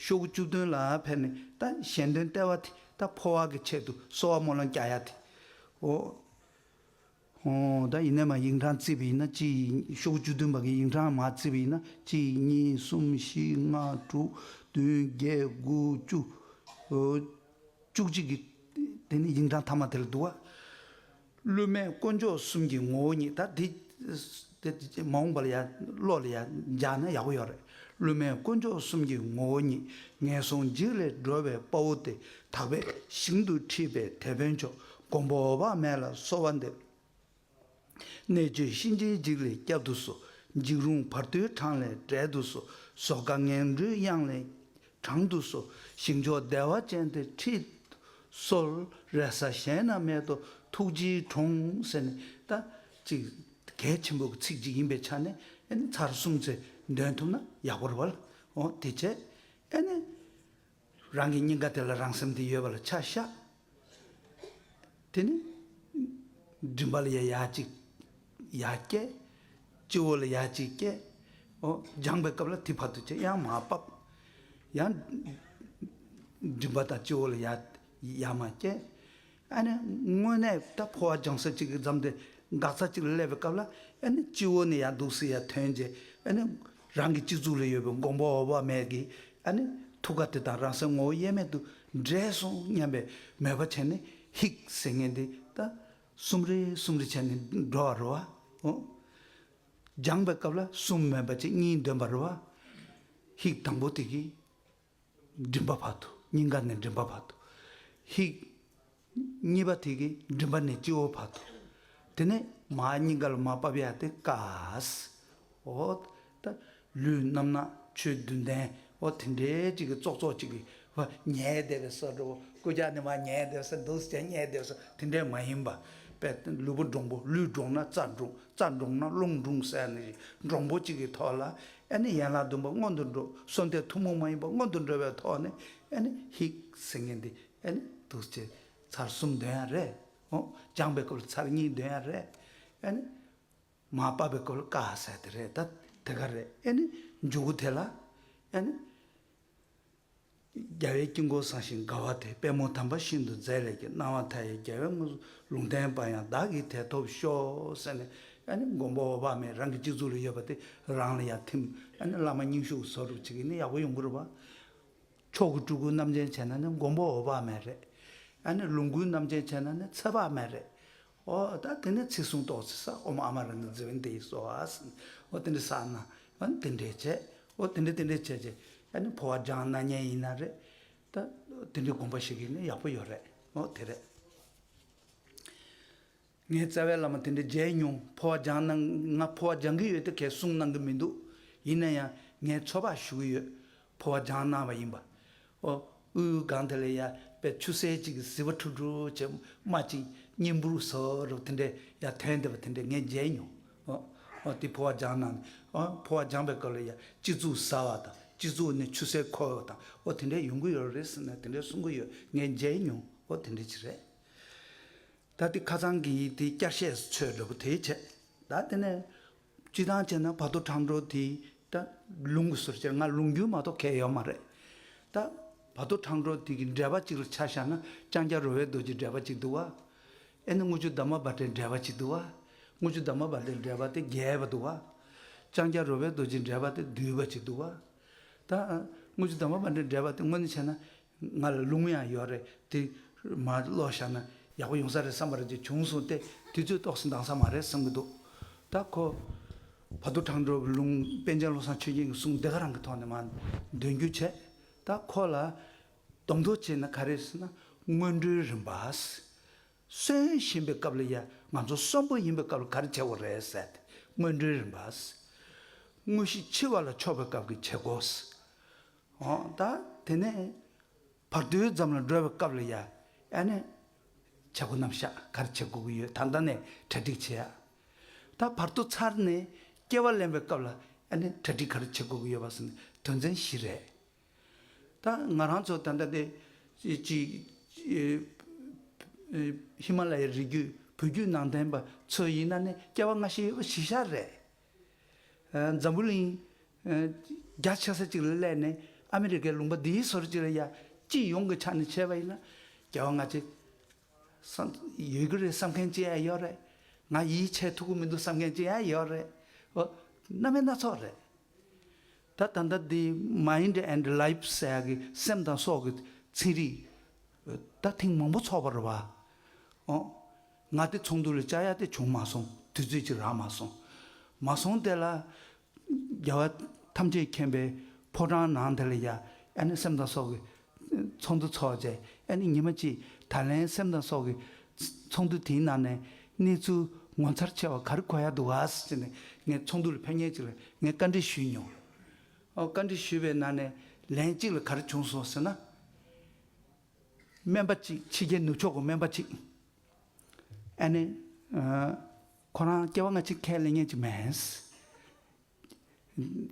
ཤོག་གུ་བཅུ་བདུན་ལ་ཕེབས་ནས་ད་གཞན་དོན་སྟེར་བ་དེ་ད་ཕོ་བ་གི་ཆེད་དུ་གསོ་བ་རྨོ་ལོང་རྒྱག་ཡ་དེ། ཨོ། ཧོ། ད་ཡིན་ནས་མ་ཡིག་འབྲང་བརྩིས་པ་ཡིན་ན་གཅིག་ཤོག་གུ་བཅུ་བདུན་པ་གི་ཡིག་འབྲང་མ་བརྩིས་པ་ཡིན་ན་གཅིག་གཉིས་གསུམ་བཞི་ལྔ་དྲུག་བདུན་བརྒྱད་དགུ་བཅུ། བཅུ་གཅིག་གི་དེ་ནི་ཡིག་འབྲང་ཐ་མ་དེ་ལ་འདུག་ཨ། བསླུ་མེད་དཀོན་མཆོག་གསུམ་གྱི་ངོ་བོ་ཉིད་ད་འདི། མ་འོངས་པ་ལ་ཡང་བློ་ལ་ཡང་འཇགས་ན་ཡག་པོ་ཡོད་རེད། བསླུ་མེད་དཀོན་མཆོག་གསུམ་གྱི་ངོ་བོ་ཉིད་ངན་སོང་འཇིགས་ལས་སྒྲོལ་བའི་དཔའ་བོ་དེ་དག་པས་ཞིང་དུ་ཁྲིད་པའི་དེད་དཔོན་མཆོག་དགོངས་པ་འོད་དཔག་མེད་ལ་གསོལ་བ་འདེབས། གནས་བཅུའི་གཤིན་རྗེའི་འཇིགས་ལས་སྐྱབས་འདུག་སོ་འཇིགས་རུང་བར་དོའི་གྲངས་ལས་བསྒྲལ་འདུག་སོ་ཟོག་དགའ་ངན་འགྲོའི་གཡང་ལས་གྲང་དུ་སོ་ཞིང་མཆོག་བདེ་བ་ཅན་དེ་ཁྲིད། སོལ་རས་ས་གཞན་ན་མེད་དོ་ཐུགས་རྗེའི་གྲོང་ཟེར་ནས་ད་ཅིག་གལ་ཆེན་པོའི་ཚིག་ཅིག་ཡིན་པའི་ཆ་ནས་ཨེ་ནི་ཚར་གསུམ་ཚེ་འདོན་ཐུབ་ན་ཡག་པོར་བལ་འོང་དེ་བྱས་ཨེ་ནི། རང་གི་སྙིང་ག་དེ་ལ་རང་སེམས་དེ་ཡོད་པ་ལ་ཆ་བཞག་དེ་ནས་མགྲིན་པ་ལ་ཡ་ཡ་གཅིག་ཡ་བསྐྱེད། སྤྱི་བོ་ལ་ཡ་གཅིག་བསྐྱེད། སྦྱངས་པའི་སྐབས་ལ་དེ་བར་དུ་བྱས་ཡང་མ་བབ། ཡང་མགྲིན་པ་དང་སྤྱི་བོ་ལ་ཡ་ཡ་མ་བསྐྱེད། ཨ་ནི་དངོས་གནས་ད་འཕོ་བ་སྦྱང་ས་གཅིག་གི་མཚམས་དེ་འགག་ས་གཅིག་ལ་སླེབས་པའི་སྐབས་ལ་ཨ་ནི་སྤྱི་བོ་ནས་ཡར་འདུག་སེ་ཡར་ཐོན་རྗེས་ཨ་ནི། རང་གི་སྤྱི་གཙུག་ལ་ཡོད་པའི་མགོན་པོ་འོག་བར་མེད་ཀྱི་ཐུགས་ཀ་དེ་དང་རང་སའི་ངོ་བོ་དབྱེར་མེད་དུ་འདྲེས་སོང་སྙམ་པའི་མོས་པ་བྱས་ནས་ཧིཀ་ཟེར་ངན་དེ་ད་སུམ་རེ་སུམ་རེ་བྱས་ནས་འགྲོ་བར་རོ། སྦྱངས་པའི་སྐབས་ལ་གསུམ་མེད་པ་ཅིག་གཉིས་འདོན་པར་རོ། ཧིཀ་དང་པོ་དེ་གིས་མགྲིན་པ་བར་དུ་སྙིང་ག་ནས་མགྲིན་པ་བར་དུ། ཧིཀ། གཉིས་པ་ཐིག་གི་མགྲིན་པ་ནས་སྤྱི་བོ་བར་དུ། དེ་ནས་མ་སྙིང་ག་ལ་མ་བབས་ཡ་དེ་ཀཱས། ཨོ། ད། ལུས་རྣམ་ནག་ཆོས་བདུན་ལྡན། ཨོ་དེ་འདྲའི་གཅིག་གི་ཙོག་ཙོག་གཅིག་གི། བ་ཉའི་སྡེ་བའི་སོར་འགྲོ་ཀུ་ཅག་ནི་མ་ཉའི་སྡེ་བའི་སོར་འདུག་ཅེས་ཉའི་སྡེ་བའི་སོར་དེ་འདྲའི་མ་ཡིན་པ། པའི་ལུས་པོ་འབྲོང་པོ་ལུས་འབྲོང་ན་རྩ་འབྲོང་རྩ་འབྲོང་ན་རླུང་འབྲོང་ཟེར་ནི། འབྲོང་པོ་གཅིག་གི་ཐོག་ལ་ཨ་ནི་ཡན་ལག་བདུན་པོ་སྔོན་དུ་འགྲོ་གསུམ་སྟེ་ཐུན་མོང་མ་ཡིན་པ་སྔོན་དུ་འགྲོ་བའི་ཐོག་ནས་ཨ་ནི་ཧིཀ་ཟེར་ངེས་འདི་ཨ་ནི་དུག་ཅེས་ཚར་གསུམ་འདོན་ཡ་རེད་ཨོ་སྦྱངས་པའི་སྐོར་ཚར་གཉིས་འདོན་ཡ་རེད་ཨ་ནི་མ་བབས་པའི་སྐོར་ཀ་ཟེར་དེ་རེད་ད་དེ་ག་རེད་ཨ་ནི་འཇུག་གུ་དེ་ལ་ཨ་ནི། རྒྱལ་བའི་དཀྱིལ་འཁོར་བསང་ཞིང་དགའ་བ་དེ་པད་མོ་དམ་པ་ཤིན་ཏུ་མཛེས་ལེགས་ཀྱི་སྣང་བ་མཐའ་ཡས་རྒྱལ་བའི་དངོས་སུ་ལུང་བསྟན་པ་ཡང་བདག་གིས་དེ་ཐོབ་ཤོག་ཟེར་ནས་ཡང་ནི་མགོན་པོ་འོག་བག་མེད་རང་གི་སྤྱི་གཙུག་ལ་ཡོད་པ་དེ་རང་ལ་ཡང་ཐིམ་ཡང་ནི་བླ་མ་སྙིང་ཞུགས་སོགས་སྒྲུབ་བྱེད་ཀྱི་ནི་ཡག་པོ་ཡོང་གི་རུ་བ། མཆོག་གི་སྤྲུལ་སྐུ་རྣམ་མཁྱེན་བྱས་ན་ནི་མགོན་པོ་འོག་བག་མེད་རེད། ཡང་ནི་ལོངས་སྐུའི་རྣམ་མཁྱེན་བྱས་ན་ནི་ཚེ་དཔག་མེད་རེད། ཨོ་ད་དེ་ནས་ཚིག་གསུང་རྟོགས་ཚིག་ས་ཨོ་མ་ཨ་མ་རང་གི་རྫི་བོན་དེ་ཡིས་གསོལ་བ་ཟིན། ཨོ་དེ་འདྲའི་ས་ན་ཨོན་དེ་འདྲས་བྱས། ཨོ་དེ་འདྲས་དེ་འདྲས་བྱས་རྗེས་ཨ་ནི་ཕོ་བ་སྦྲང་ན་ཉན་ཡིན་ན་རེད། ད་དེ་འདྲའི་དགོངས་པ་ཞིག་ཡིན་ན་ཡག་པོ་ཡོད་རེད་ཨོ་དེ་རེད། ངའི་རྩ་བའི་བླ་མ་དེ་འདྲས་མཇལ་མྱོང་ཕོ་བ་སྦྱང་ན་ང་ཕོ་བ་སྦྱང་གི་ཡོད་དེ་གས་གསུང་གནང་གི་མི་འདུག་ཡིན་ན་ཡང་ངའི་ཚོ་པ་ཞུགས་ཡོད་ཕོ་བ་ལྗང་ནག་བ་ཡིན་པ། དབུའི་སྒང་དེ་ལ་ཡ་བའི་ཆུ་སེར་ཅིག་གིས་བཟི་བ་འཁྲུག་འཁྲུག་བྱེད་སྨྲ་ཅིང་སྙིང་འབུར་བཟོ་རོགས་དེ་འདྲའི་ཡ་དོན་བདེ་བ་དེ་འདྲ་ངས་མཇལ་མྱོང། དེ་ཕོ་བ་ལྗང་ནག་ནི། ཕོ་བ་ལྗང་བའི་སྐབས་ལ་ཡ་སྤྱི་གཙུག་ཟ་བ་དང་སྤྱི་གཙུག་ནས་ཆུ་སེར་འཁོར་བ་དང་འོ་དེ་འདྲའི་ཡོང་གི་ཡོད་རེད་ཟེར་ནས་དེ་འདྲའི་གསུང་གི་ཡོད་ངས་མཇལ་མྱོང་འོ་དེ་འདྲ་ཅིག་རེད། ད་དེ་ཁ་ཚང་གི་ཡིག་དེའི་བསྐྱར་བཤད་སུ་ཚོས་འདྲ་པོ་དེའི་ཆེད་ད་དེ་ནས་སྤྱི་དང་བཅས་ན་བར་དོ་དྲང་འགྲོ་དེ་ད་ལུང་གི་ཟུར་ཆེར་ང་ལུང་རྒྱུན་མ་གཏོགས་ཁས་ཡོད་མ་རེད་ད། བར་དོ་དྲང་འགྲོ་དེ་གི་འགྲེལ་པ་ཅིག་ལ་ཆ་བཞག་ན་ལྕང་སྐྱ་རོལ་བའི་རྡོ་རྗེའི་འགྲེལ་པ་ཅིག་འདུག་བ། ཨེ་ནི་དངུལ་ཆུ་འདབ་མ་འབར་དྲའི་འགྲེལ་པ་ཅིག་འདུག་བ། དངུལ་ཆུ་འདབ་མ་འབར་དྲའི་འགྲེལ་པ་དེ་རྒྱས་པ་འདུག་བ། ལྕང་སྐྱ་རོལ་བའི་རྡོ་རྗེའི་འགྲེལ་པ་དེ་བསྡུས་པ་ཅིག་འདུག་བ། ད། དངུལ་ཆུ་འདབ་མ་འབར་དྲའི་འགྲེལ་པ་དེ་དངོས་ནས་བྱས་ན་ང་ལ་རླུང་ཡང་ཡོད་རེད་དེ། མ་བློ་བཞག་ན་ཡག་པོ་ཡོང་ས་རེད་བསམ་པ་རེད་ཅེས་བྱུང་སོང་སྟེ་དུས་ཚོད་ཏོག་སུ་འདང་ས་མ་རེད་བསམ་གྱི་འདུག་ད་ཁོ། བ་དུ་དྲང་འགྲོ་བའི་ལུང་པན་ཆེན་བློ་བཟང་ཆོས་རྒྱན་གྱི་གསུང་འདི་ག་རང་གི་ཐོག་ནས་མ་འདོན་རྒྱུ་བྱས། ད་ཁོ་ལ་གདོང་ཐོག་བྱས་ན་ག་རེ་ཟེར་ན་སྔོན་འགྲོའི་རིམ་པ། གསོན་བཞིན་པའི་སྐབས་ལ་ཡ་ང་ཚོ་གསོན་པོ་ཡིན་པའི་སྐབས་ལ་ག་རེ་བྱེད་དགོས་རེད་ཟེར་ཏེ་སྔོན་འགྲོའི་རིམ་པ། དངོས་གཞི་འཆི་བ་ལ་ཕྱོགས་པའི་སྐབས་ཀྱི་བྱེད་སྒོ། ཨོ་ད་དེ་ནས་བར་དོའི་འཛམ་གླིང་སྒྲོལ་བའི་སྐབས་ལ་ཡ་ཨ་ནས་བྱ་སྒོ་རྣམས་ཤག་གར་བྱེད་དགོས་ཀྱི་ཡོད་ད་ལྟ་ནས་གྲ་སྒྲིག་བྱེད་ཨ། ད་བར་དོ་ཚར་ནས་སྐྱེ་བ་ལེན་པའི་སྐབས་ལ་ཨ་ནས་གྲ་སྒྲིག་གར་བྱེད་དགོས་ཀྱི་ཡོད་པ་སོགས་ནི་དོན་ཚན་བཞི་རེད། ད་ང་རང་ཚོ་ད་ལྟ་དེ་གཅིག་ཧི་མ་ལ་ཡའི་རི་རྒྱུད་བོད་བརྒྱུད་ནང་བསྟན་པ་ཚོ་ཡིན་ན་ནི་སྐྱེ་བ་སྔ་ཕྱི་ཡོད་པ་གཞི་ཤ་རེད། འཛམ་བུ་གླིང། རྒྱ་ཆེ་ས་གཅིག་ལ་སླེབས་ནས་ཨ་མི་རི་ཀའི་ལུང་པ་འདིའི་སོར་གཅིག་ལ་ཡ་སྐྱིད་ཡོང་གི་ཆ་ནས་བྱས་པ་ཡིན་ན། རྒྱལ་བ་ང་ཅི། ཡོད་ཀྱི་རེད་བསམ་མཁན་ཅི་ཡང་ཡོད་རེད། ང་ཡིད་ཆེས་ཐུབ་ཀྱི་མི་འདུག་བསམ་མཁན་ཅི་ཡང་ཡོད་རེད། ཨོ། རྣམ་དཔྱོད་སྣ་ཚོགས་རེད། ད་ད་ལྟ་འདི Mind and Life ཟེར་ཡག་གི་སེམས་དང་སྲོག་གི་ཚན་རིག། ད་ཐེངས་མང་པོ་ཚོགས་པར་བ། ཨོ། ང་དེ་ཚོགས་འདུ་ལ་བཅར་ཡ་དེ་བྱུང་མ་སོང་དུས་ཚོད་ཅིག་རག་མ་སོང། མ་སོང་དེ་ལ། རྒྱལ་བ་ཐམས་ཅད་མཁྱེན་པའི་ཕོ་བྲང་ནང་དེ་ལ་ཡ་ཨ་ནི་སེམས་དང་སྲོག་གི་ཚོགས་འདུ་ཚོགས་རྗེས་ཨ་ནི་ཉི་མ་གཅིག་ད་ལན་སེམས་དང་སྲོག་གི་ཚོགས་འདུ་དེའི་ནང་ནས་གནས་ཚུལ་ངོ་མཚར་ཆེ་བ་ག་རེ་གོ་ཡ་འདུག་ག་ཟེར་ནས་ངས་ཚོགས་འདུ་ལ་ཕན་ངེས་ཅིག་ལ་ངས་བཀའ་འདྲི་ཞུས་མྱོང། བཀའ་འདྲི་ཞུས་པའི་ནང་ནས་ལན་གཅིག་ལ་ག་རེ་བྱུང་སོང་ཟེར་ན། སྨན་པ་གཅིག་ཕྱི་རྒྱལ་ནུབ་ཕྱོགས་ཀྱི་སྨན་པ་གཅིག་ཨ་ནེ། ཁོ་རང་སྐྱེ་བ་སྔ་ཕྱིར་ཁས་ལེན་ཉན་གྱི་མེད།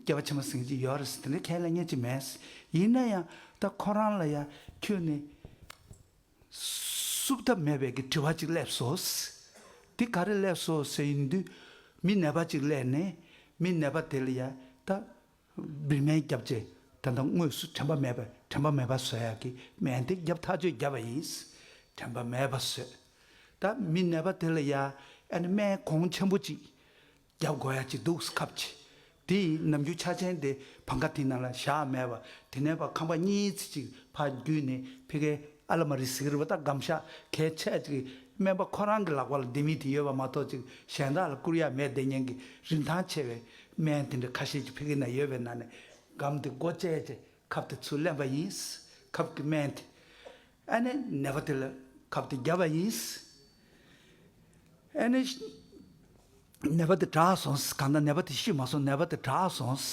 སྐྱེ་བ་ཕྱི་མ་ཟིན་གྱི་ཡོད་རེད་དེ་འདྲ་ཁས་ལེན་ཉན་གྱི་མེད། ཡིན་ན་ཡང་ད་ཁོ་རང་ལ་ཡང་ཁྱོད་ནི་བསུབ་ཐབས་མེད་པའི་གི་དྲི་བ་གཅིག་སླེབས་སོ། དེ་ག་རེ་སླེབས་སོ་ཟེར་ཡིན་དུས་མི་ནད་པ་གཅིག་སླེབས་ནས་མི་ནད་པ་དེ་ལ་ཡང་ད་བི་མའི་རྒྱབ་ཅེས་དེ་འདྲ་དངོས་སུ་དྲན་པ་མེད་པས་དྲན་པ་མེད་པ་བཟོ་ཡག་གི་མན་དེ་རྒྱབ་ཐག་གཅོད་བརྒྱབ་པ་ཡིན། དྲན་པ་མེད་པ་བཟོས་ད་མི་ནད་པ་དེ་ལ་ཡ་ཨེ་ན་མའི་གོང་ཆེན་པོ་ཅིག་རྒྱབ་དགོ་ཡ་ཅིག་འདུག་སྐབས་ཀྱི་དེ་ཡི་ནམ་རྒྱུན་ཆ་ཆེན་དེ་བང་ཁ་དེ་ན་ལ་བཞག་མེད་པ་དེ་ནས་པ་ཁང་པ་གཉིས་ཚིག་ཅིག་ཕར་བརྒྱུད་ནས་ཕི་ཁའི་ཨ་ལ་མ་རི་ཟིག་རི་བ་ད་སྒམ་ཤ་ཁའི་ཆད་ཅིག་སྨན་པ་ཁོ་རང་གི་ལག་པ་ལ་འདི་མི་དེ་ཡོད་པ་མ་གཏོགས་ཅིག་གཞན་དག་ལ་བསྐུར་ཡ་མེད་བདེ་སྙན་གི་རིན་ཐང་ཆེ་བས་སྨན་དེ་འདྲ་ཁ་ཤས་ཀྱི་ཕི་གི་ན་ཡོད་པའི་ནང་ནས་སྒམ་དེ་སྒོ་བཅད་རྗེས་ཁབ་དེ་ཚུར་ལེན་པ་ཡིན། ཁབ་ཀྱི་སྨན་དེ་ཨ་ནེ་ནད་པ་དེ་ལ་ཁབ་དེ་བརྒྱབ་པ་ཡིན། ཨ་ནེ་ནད་པ་དེ་དྲག་སོང། གང་ལྟར་ནད་པ་དེ་ཤི་མ་སོང་ནད་པ་དེ་དྲག་སོང།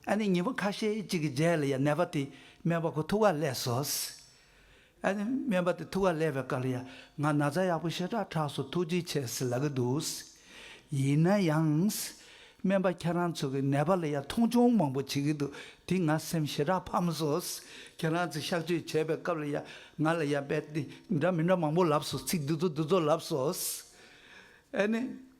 ཨ་ནེ་ཉིན་པོ་ཁ་ཤས་ཅིག་གི་རྗེས་ལ་ཡང་ནད་པ་དེས་སྨན་པ་ཁོ་ཐུག་ཁ་ལས་སོ། ཨ་ནི་སྨན་པ་དེ་ཐུགས་ཀ་ལས་པའི་བཀའ་ལ་ཡང་ང་ན་ཚ་ཡག་པོ་ཞེ་དྲག་དྲགས་སུ་ཐུགས་རྗེ་ཆེ་ཟེར་ལ་གི་འདུག་ཡིན་ན་ཡང། སྨན་པ་ཁྱེད་རང་ཚོ་གི་ནད་པ་ལ་ཡང་མཐོང་ཆུང་མང་པོ་བྱེད་ཀྱི་འདུག་དེ་ང་སེམས་ཞེ་དྲག་ཕམ་སོ། ཁྱེད་རང་ཚོས་གཤག་བཅོས་བྱས་པའི་སྐབས་ལ་ཡང་ང་ལ་ཡང་དཔེ་དེ་འདྲ་མི་འདྲ་མང་པོ་ལབ་སོ་ཚིག་འདི་ཚོ་འདི་ཚོ་ལབ་སོ། ཨ་ནི།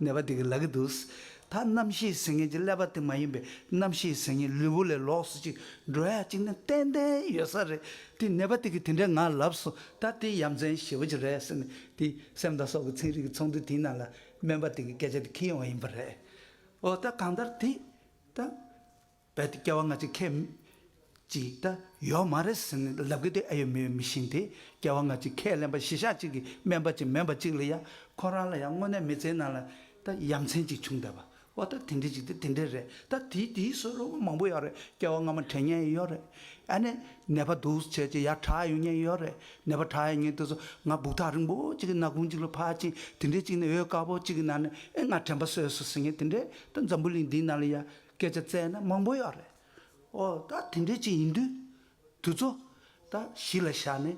ནད་པ་དེ་གིས་ལ་གི་འདུག། ད་རྣམ་ཤེས་ཟེར་མཁན་གྱི་ཀླད་པ་དེ་མ་ཡིན་པའི་རྣམ་ཤེས་ཟེར་མཁན་ལུས་པོ་ལས་ལོགས་སུ་ཅིག་འགྲོ་ཡ་ཅིག་ནི་ཏན་ཏན་ཡོད་ས་རེད་དེ་ནད་པ་དེ་གིས་དེ་འདྲའི་ངང་ལབ་སོང་ད་དེ་ཡ་མཚན་ཞེ་བོ་ཅིག་རེད་ཟེར་ནས་དེ་སེམས་དང་སྲོག་གི་ཚན་རིག་གི་ཚོགས་འདུ་དེའི་ནང་ལ་སྨན་པ་དེ་གི་སྐད་ཆ་དེ་ཁེལ་ཡོང་བ་ཡིན་པ་རེད། འོ་ད་གང་ལྟར་དེ་ད། རྦད་དེ་སྐྱེ་བ་སྔ་ཕྱི་ཁས། ཅིག་ད་ཡོད་མ་རེད་ཟེར་ནས་ལབ་གི་དེ་ཨེ་ཡོད་མི་ཡོད་མི་ཤེས་དེ་སྐྱེ་བ་སྔ་ཕྱི་ཁས་ལེན་པ་གཞི་ཞག་གཅིག་གི་སྨན་པ་ཅིག་མེད་པ་ཅིག་ལ་ཡ་ཁོ་རང་ལ་ཡ་དངོས་གནས་མི་ཚེའི་ནང་ལ་ད་ཡ་མཚན་ཅིག་བྱུང་བསྡད་པ་ཨོ་ད་དེ་འདྲས་ཅིག་དེ་དེ་འདྲས་རེད་ད་དེའི་དེའི་སོ་ལོ་མང་པོ་ཡོད་རེད་སྐྱེ་བ་སྔ་མ་དྲན་ཉན་ཡོད་རེད་ཨ་ནེ་ནད་པ་འདུག་བྱས་ཅིག་ཡ་གྲགས་ཡོང་ཉན་ཡོད་རེད་ནད་པ་གྲགས་ཡ་ཉན་དུས་སུ་ང་སྦུག་ཐག་རིང་པོ་ཅིག་གི་ནག་ཁུང་ཅིག་ལ་ཕར་ཕྱིན་དེ་འདྲས་ཅིག་ནས་འོད་དཀར་པོ་ཅིག་གི་ནང་ནས་ཨེ་ང་དྲན་པ་སོས་སོ་ཟེར་ངེས་དེ་འདྲས་ད་འཛམ་བུ་གླིང་འདིའི་ནང་ལ་ཡ། སྐད་ཆ་བཙལ་ན་མང་པོ་ཡོད་རེད། ཨོ། ད་དེ་འདྲའི་ཅིག་ཡིན་དུས། དུས་ཚོད། ད་གཞི་ལ་བཞག་ནས།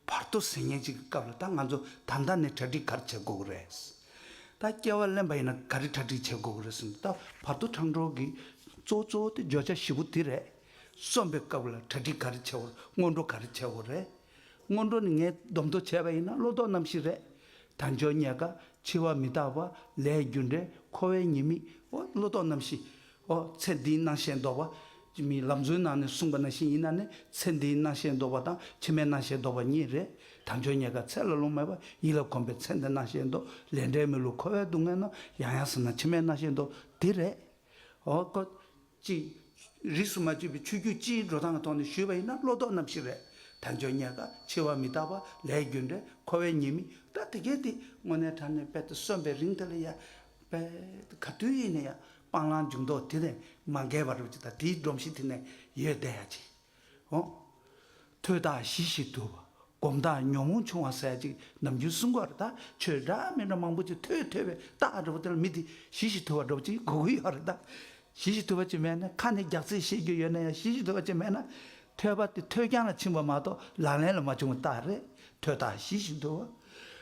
བར་དོ་ཟེར་ཉན་ཅིག་གི་སྐབས་ལ་ད་ང་ཚོ་ད་ལྟ་ནས་གྲ་སྒྲིག་ག་རེ་བྱེད་དགོས་ཀྱི་རེད། ད་སྐྱེ་བ་ལེན་པ་ཡིན་ན་ག་རེ་གྲ་སྒྲིག་བྱེད་དགོས་ཀྱི་རེད་ཟེར་ན་ད་བར་དོ་འཕྲང་གྲོགས་ཀྱི་གཙོ་བོ་གཙོ་བོ་དེ་བརྗོད་བྱ་བཞི་པོ་དེ་རེད། གསོན་པའི་སྐབས་ལ་གྲ་སྒྲིག་ག་རེ་བྱེད་དགོས་རེད་སྔོན་འགྲོ་ག་རེ་བྱེད་དགོས་རེད། སྔོན་འགྲོ་ནི་ངས་སྡོམ་མདོ་བྱས་པ་ཡིན་ན་བློ་ལྡོག་རྣམ་བཞི་རེད། དལ་འབྱོར་ཉལ་དཀའ་འཆི་བ་མི་རྟག་པ་ལས་རྒྱུ་འབྲས་འཁོར་བའི་ཉེས་དམིགས་འོ་བློ་ལྡོག་རྣམ་བཞི་འོ་ཚེ་འདིའི་སྣང་ཞེན་ལྡོག་པ། ཅི་མི་ལབ་མཛོད་ནང་ནས་གསུངས་པ་ན་བཞིན་ཡིན་ན་ནི་ཚེ་འདིའི་སྣང་ཞེན་ལྡོག་པ་དང་ཕྱི་མའི་སྣང་ཞེན་ལྡོག་པ་གཉིས་རེད། དལ་འབྱོར་ཉལ་དཀའ་ཚད་ལ་ལོངས་མེད་པ་ཡིད་ལ་གོམས་པའི་ཚེ་འདི་སྣང་ཞེན་ལྡོག་ལས་འབྲས་མི་བསླུ་འཁོར་བའི་སྡུག་བསྔལ་ནང་ཡང་ཡང་ཟིན་ན་ཕྱི་མའི་སྣང་ཞེན་ལྡོག་འདི་རེད། འོ་ཀོ། ཅིག། རིས་སུ་མ་བཅད་པའི་ཆོས་བརྒྱུད་སྤྱིའི་འགྲོ་སྟངས་ཀྱི་ཐོག་ནས་ཞུས་པ་ཡིན་ན་བློ་ལྡོག་རྣམ་བཞི་རེད། དལ་འབྱོར་རྙེད་དཀའ་འཆི་བ་མི་རྟག་པ་ལས་རྒྱུ་འབྲས་འཁོར་བའི་ཉེས་དམིགས་སྒྲ་དེ་གས་དེ་དངོས་གནས་དྲ་གནས་དཔལ་དུ་གསོན་པའི་རིང་དེ་ལ་ཡང། དཔལ། ག་དུས་ཡིན་ན་ཡང་སྤང་བླང་འཇུག་ལྡོག་དེ་ནས་མ་འགལ་བ་རུ་གཅིག་དང་དེའི་སྒྲོམ་གཞི་དེ་ནས་ཡོད་བསྡད་ཡ་གཅིག། འོང། ཐོས་བདག་གཞི་ཞིག་ཏུ། སྒོམ་བདག་ཉོན་མོངས་ཆུང་བ་ཟད་ཅིག་ནམ་རྒྱུན་གསུང་འགོ་རེད་ད་ཆོས་འདྲ་མི་འདྲ་མང་པོ་ཅིག་ཐོས་ཐོས་པའི་རྟགས་འདྲ་པོ་དེ་ལ་མི་དེ་གཞི་ཞིག་ཐོས་བ་འདྲ་པོ་ཅིག་གོ་གི་ཡོད་རེད་ད། གཞི་ཞིག་ཐོས་བ་ཅིག་མེད་ན་ཁ་ནས་རྒྱག་ཚིག་བཤད་རྒྱུ་ཡོད་ན་ཡང་གཞི་ཞིག་ཐོས་བ་ཅིག་མེད་ན། ཐོས་པ་དེ་ཐོས་རྐྱང་ལ་ཕྱིན་པ་མ་གཏོགས་ལག་ལེན་ལ་མ་བྱུང་བའི་རྟགས་རེད་ཐོས་བདག་གཞི་ཞིག་འདུག་བ།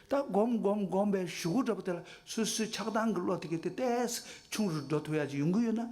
ད་སྒོམ་སྒོམ་སྒོམ་པའི་གཞུག་གུ་འདྲ་པོ་དེ་ལ་སུས་སུས་ཆགས་སྡང་གི་བློ་དེ་གས་དེ་ལྟས་སུ་ཆུང་རུ་འགྲོ་ཐུབ་ཡ་ཅིག་ཡོང་གི་ཡོད་ན་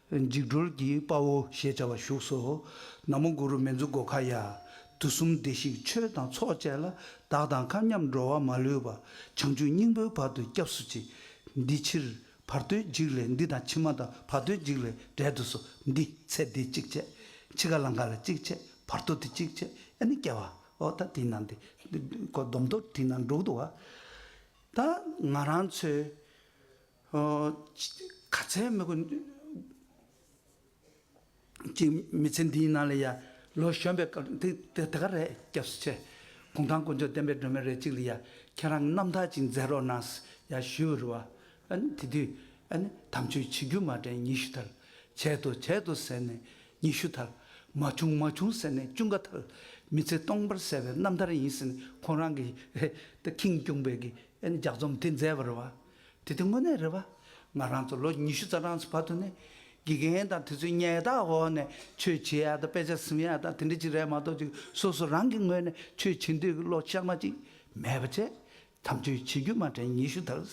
འཇིགས་སྒྲོལ་གྱི་དཔའ་བོ་ཞེས་བྱ་བ་བཞུགས་སོ། ན་མོ་གུ་རུ་མན་ཛུ་གོ་གྷ་ཡ། དུས་གསུམ་བདེ་གཤེགས་ཆོས་དང་ཚོགས་བཅས་ལ། བདག་དང་མཁའ་མཉམ་འགྲོ་བ་མ་ལུས་པ། བྱང་ཆུབ་སྙིང་པོའི་བར་དུ་སྐྱབས་སུ་མཆི། འདི་ཕྱིར་བར་དོའི་འཇིགས་ལས་འདི་དང་ཕྱི་མ་དང་བར་དོའི་འཇིགས་ལས་བསྒྲལ་དུ་གསོལ། འདི་ཚེ་འདི་གཅིག་བྱས། འཆི་ཁ་ལ་འགགས་ལ་གཅིག་བྱས། བར་དོ་འདི་གཅིག་བྱས། ཨ་ནི་སྐྱེ་བ་འོ་ད་དེ་ན་འདི། སྡོམ་ཐོབ་དེ་ན་འགྲོ་འདུ་བ། ད་ང་རང་ཚོའི། ག་ཚད་མི་དགོས། ཅིག་མི་ཚེ་འདིའི་ནང་ལ་ཡ། ལོ་གཞོན་པའི་སྐབས་དེ་དེ་ག་རེད་སྐྱབས་སུ་ཆེ། གུང་ཐང་དཀོན་མཆོག་བསྟན་པའི་སྒྲོན་མེ་རེད་ཅིག་ལ་ཡ། ཁྱེད་རང་རྣམ་ཐར་ཅིག་མཛད་རོགས་གནང། ཡ་ཞུ་བ་རུ་བ། དེ་དུས། དམ་ཆོས་ཆིག་བརྒྱུད་མ་དྲན་ཉི་ཤུ་ཐལ། བྱས་ཏོ་བྱས་ཏོ་ཟེར་ནས་ཉི་ཤུ་ཐལ། མ་བྱུང་མ་བྱུང་ཟེར་ནས་བཅུ་འགའ་ཐལ། མི་ཚེ་སྟོང་པར་གསལ་བའི་རྣམ་ཐར་ཡིན་ཟེར་ནས་ཁོང་རང་གིས། ཁེངས་སྐྱུངས་པའི་ཀྱི་ལྗགས་རྩོམ་དེ་མཛད་པ་རུ་བ། དེ་དུས་དངོས་གནས་རེད་བ། ང་རང་ཚོ་ལོ་ཉི་ཤུ་རྩ་གྲངས་སུ་བར་དུ་ནས་དགེ་རྒན་དང་དུས་ཚོད་ཉལ་ཐག་འོག་ནས་ཆོས་བྱེད་ཡག་དང་དཔེ་ཆ་ཟིན་ཡག་དང་དེ་འདྲ་ཅིག་རེད་མ་གཏོགས་ཅིག་སོ་སོ་རང་གི་ངོས་ནས་ཆོས་བྱེད་འདོད་ཀྱི་བློ་གཤགས་མ་ཅིག་མེད་པ་བྱས། དམ་ཆོས་བྱེད་རྒྱུ་མ་དྲན་ཉི་ཤུ་དར།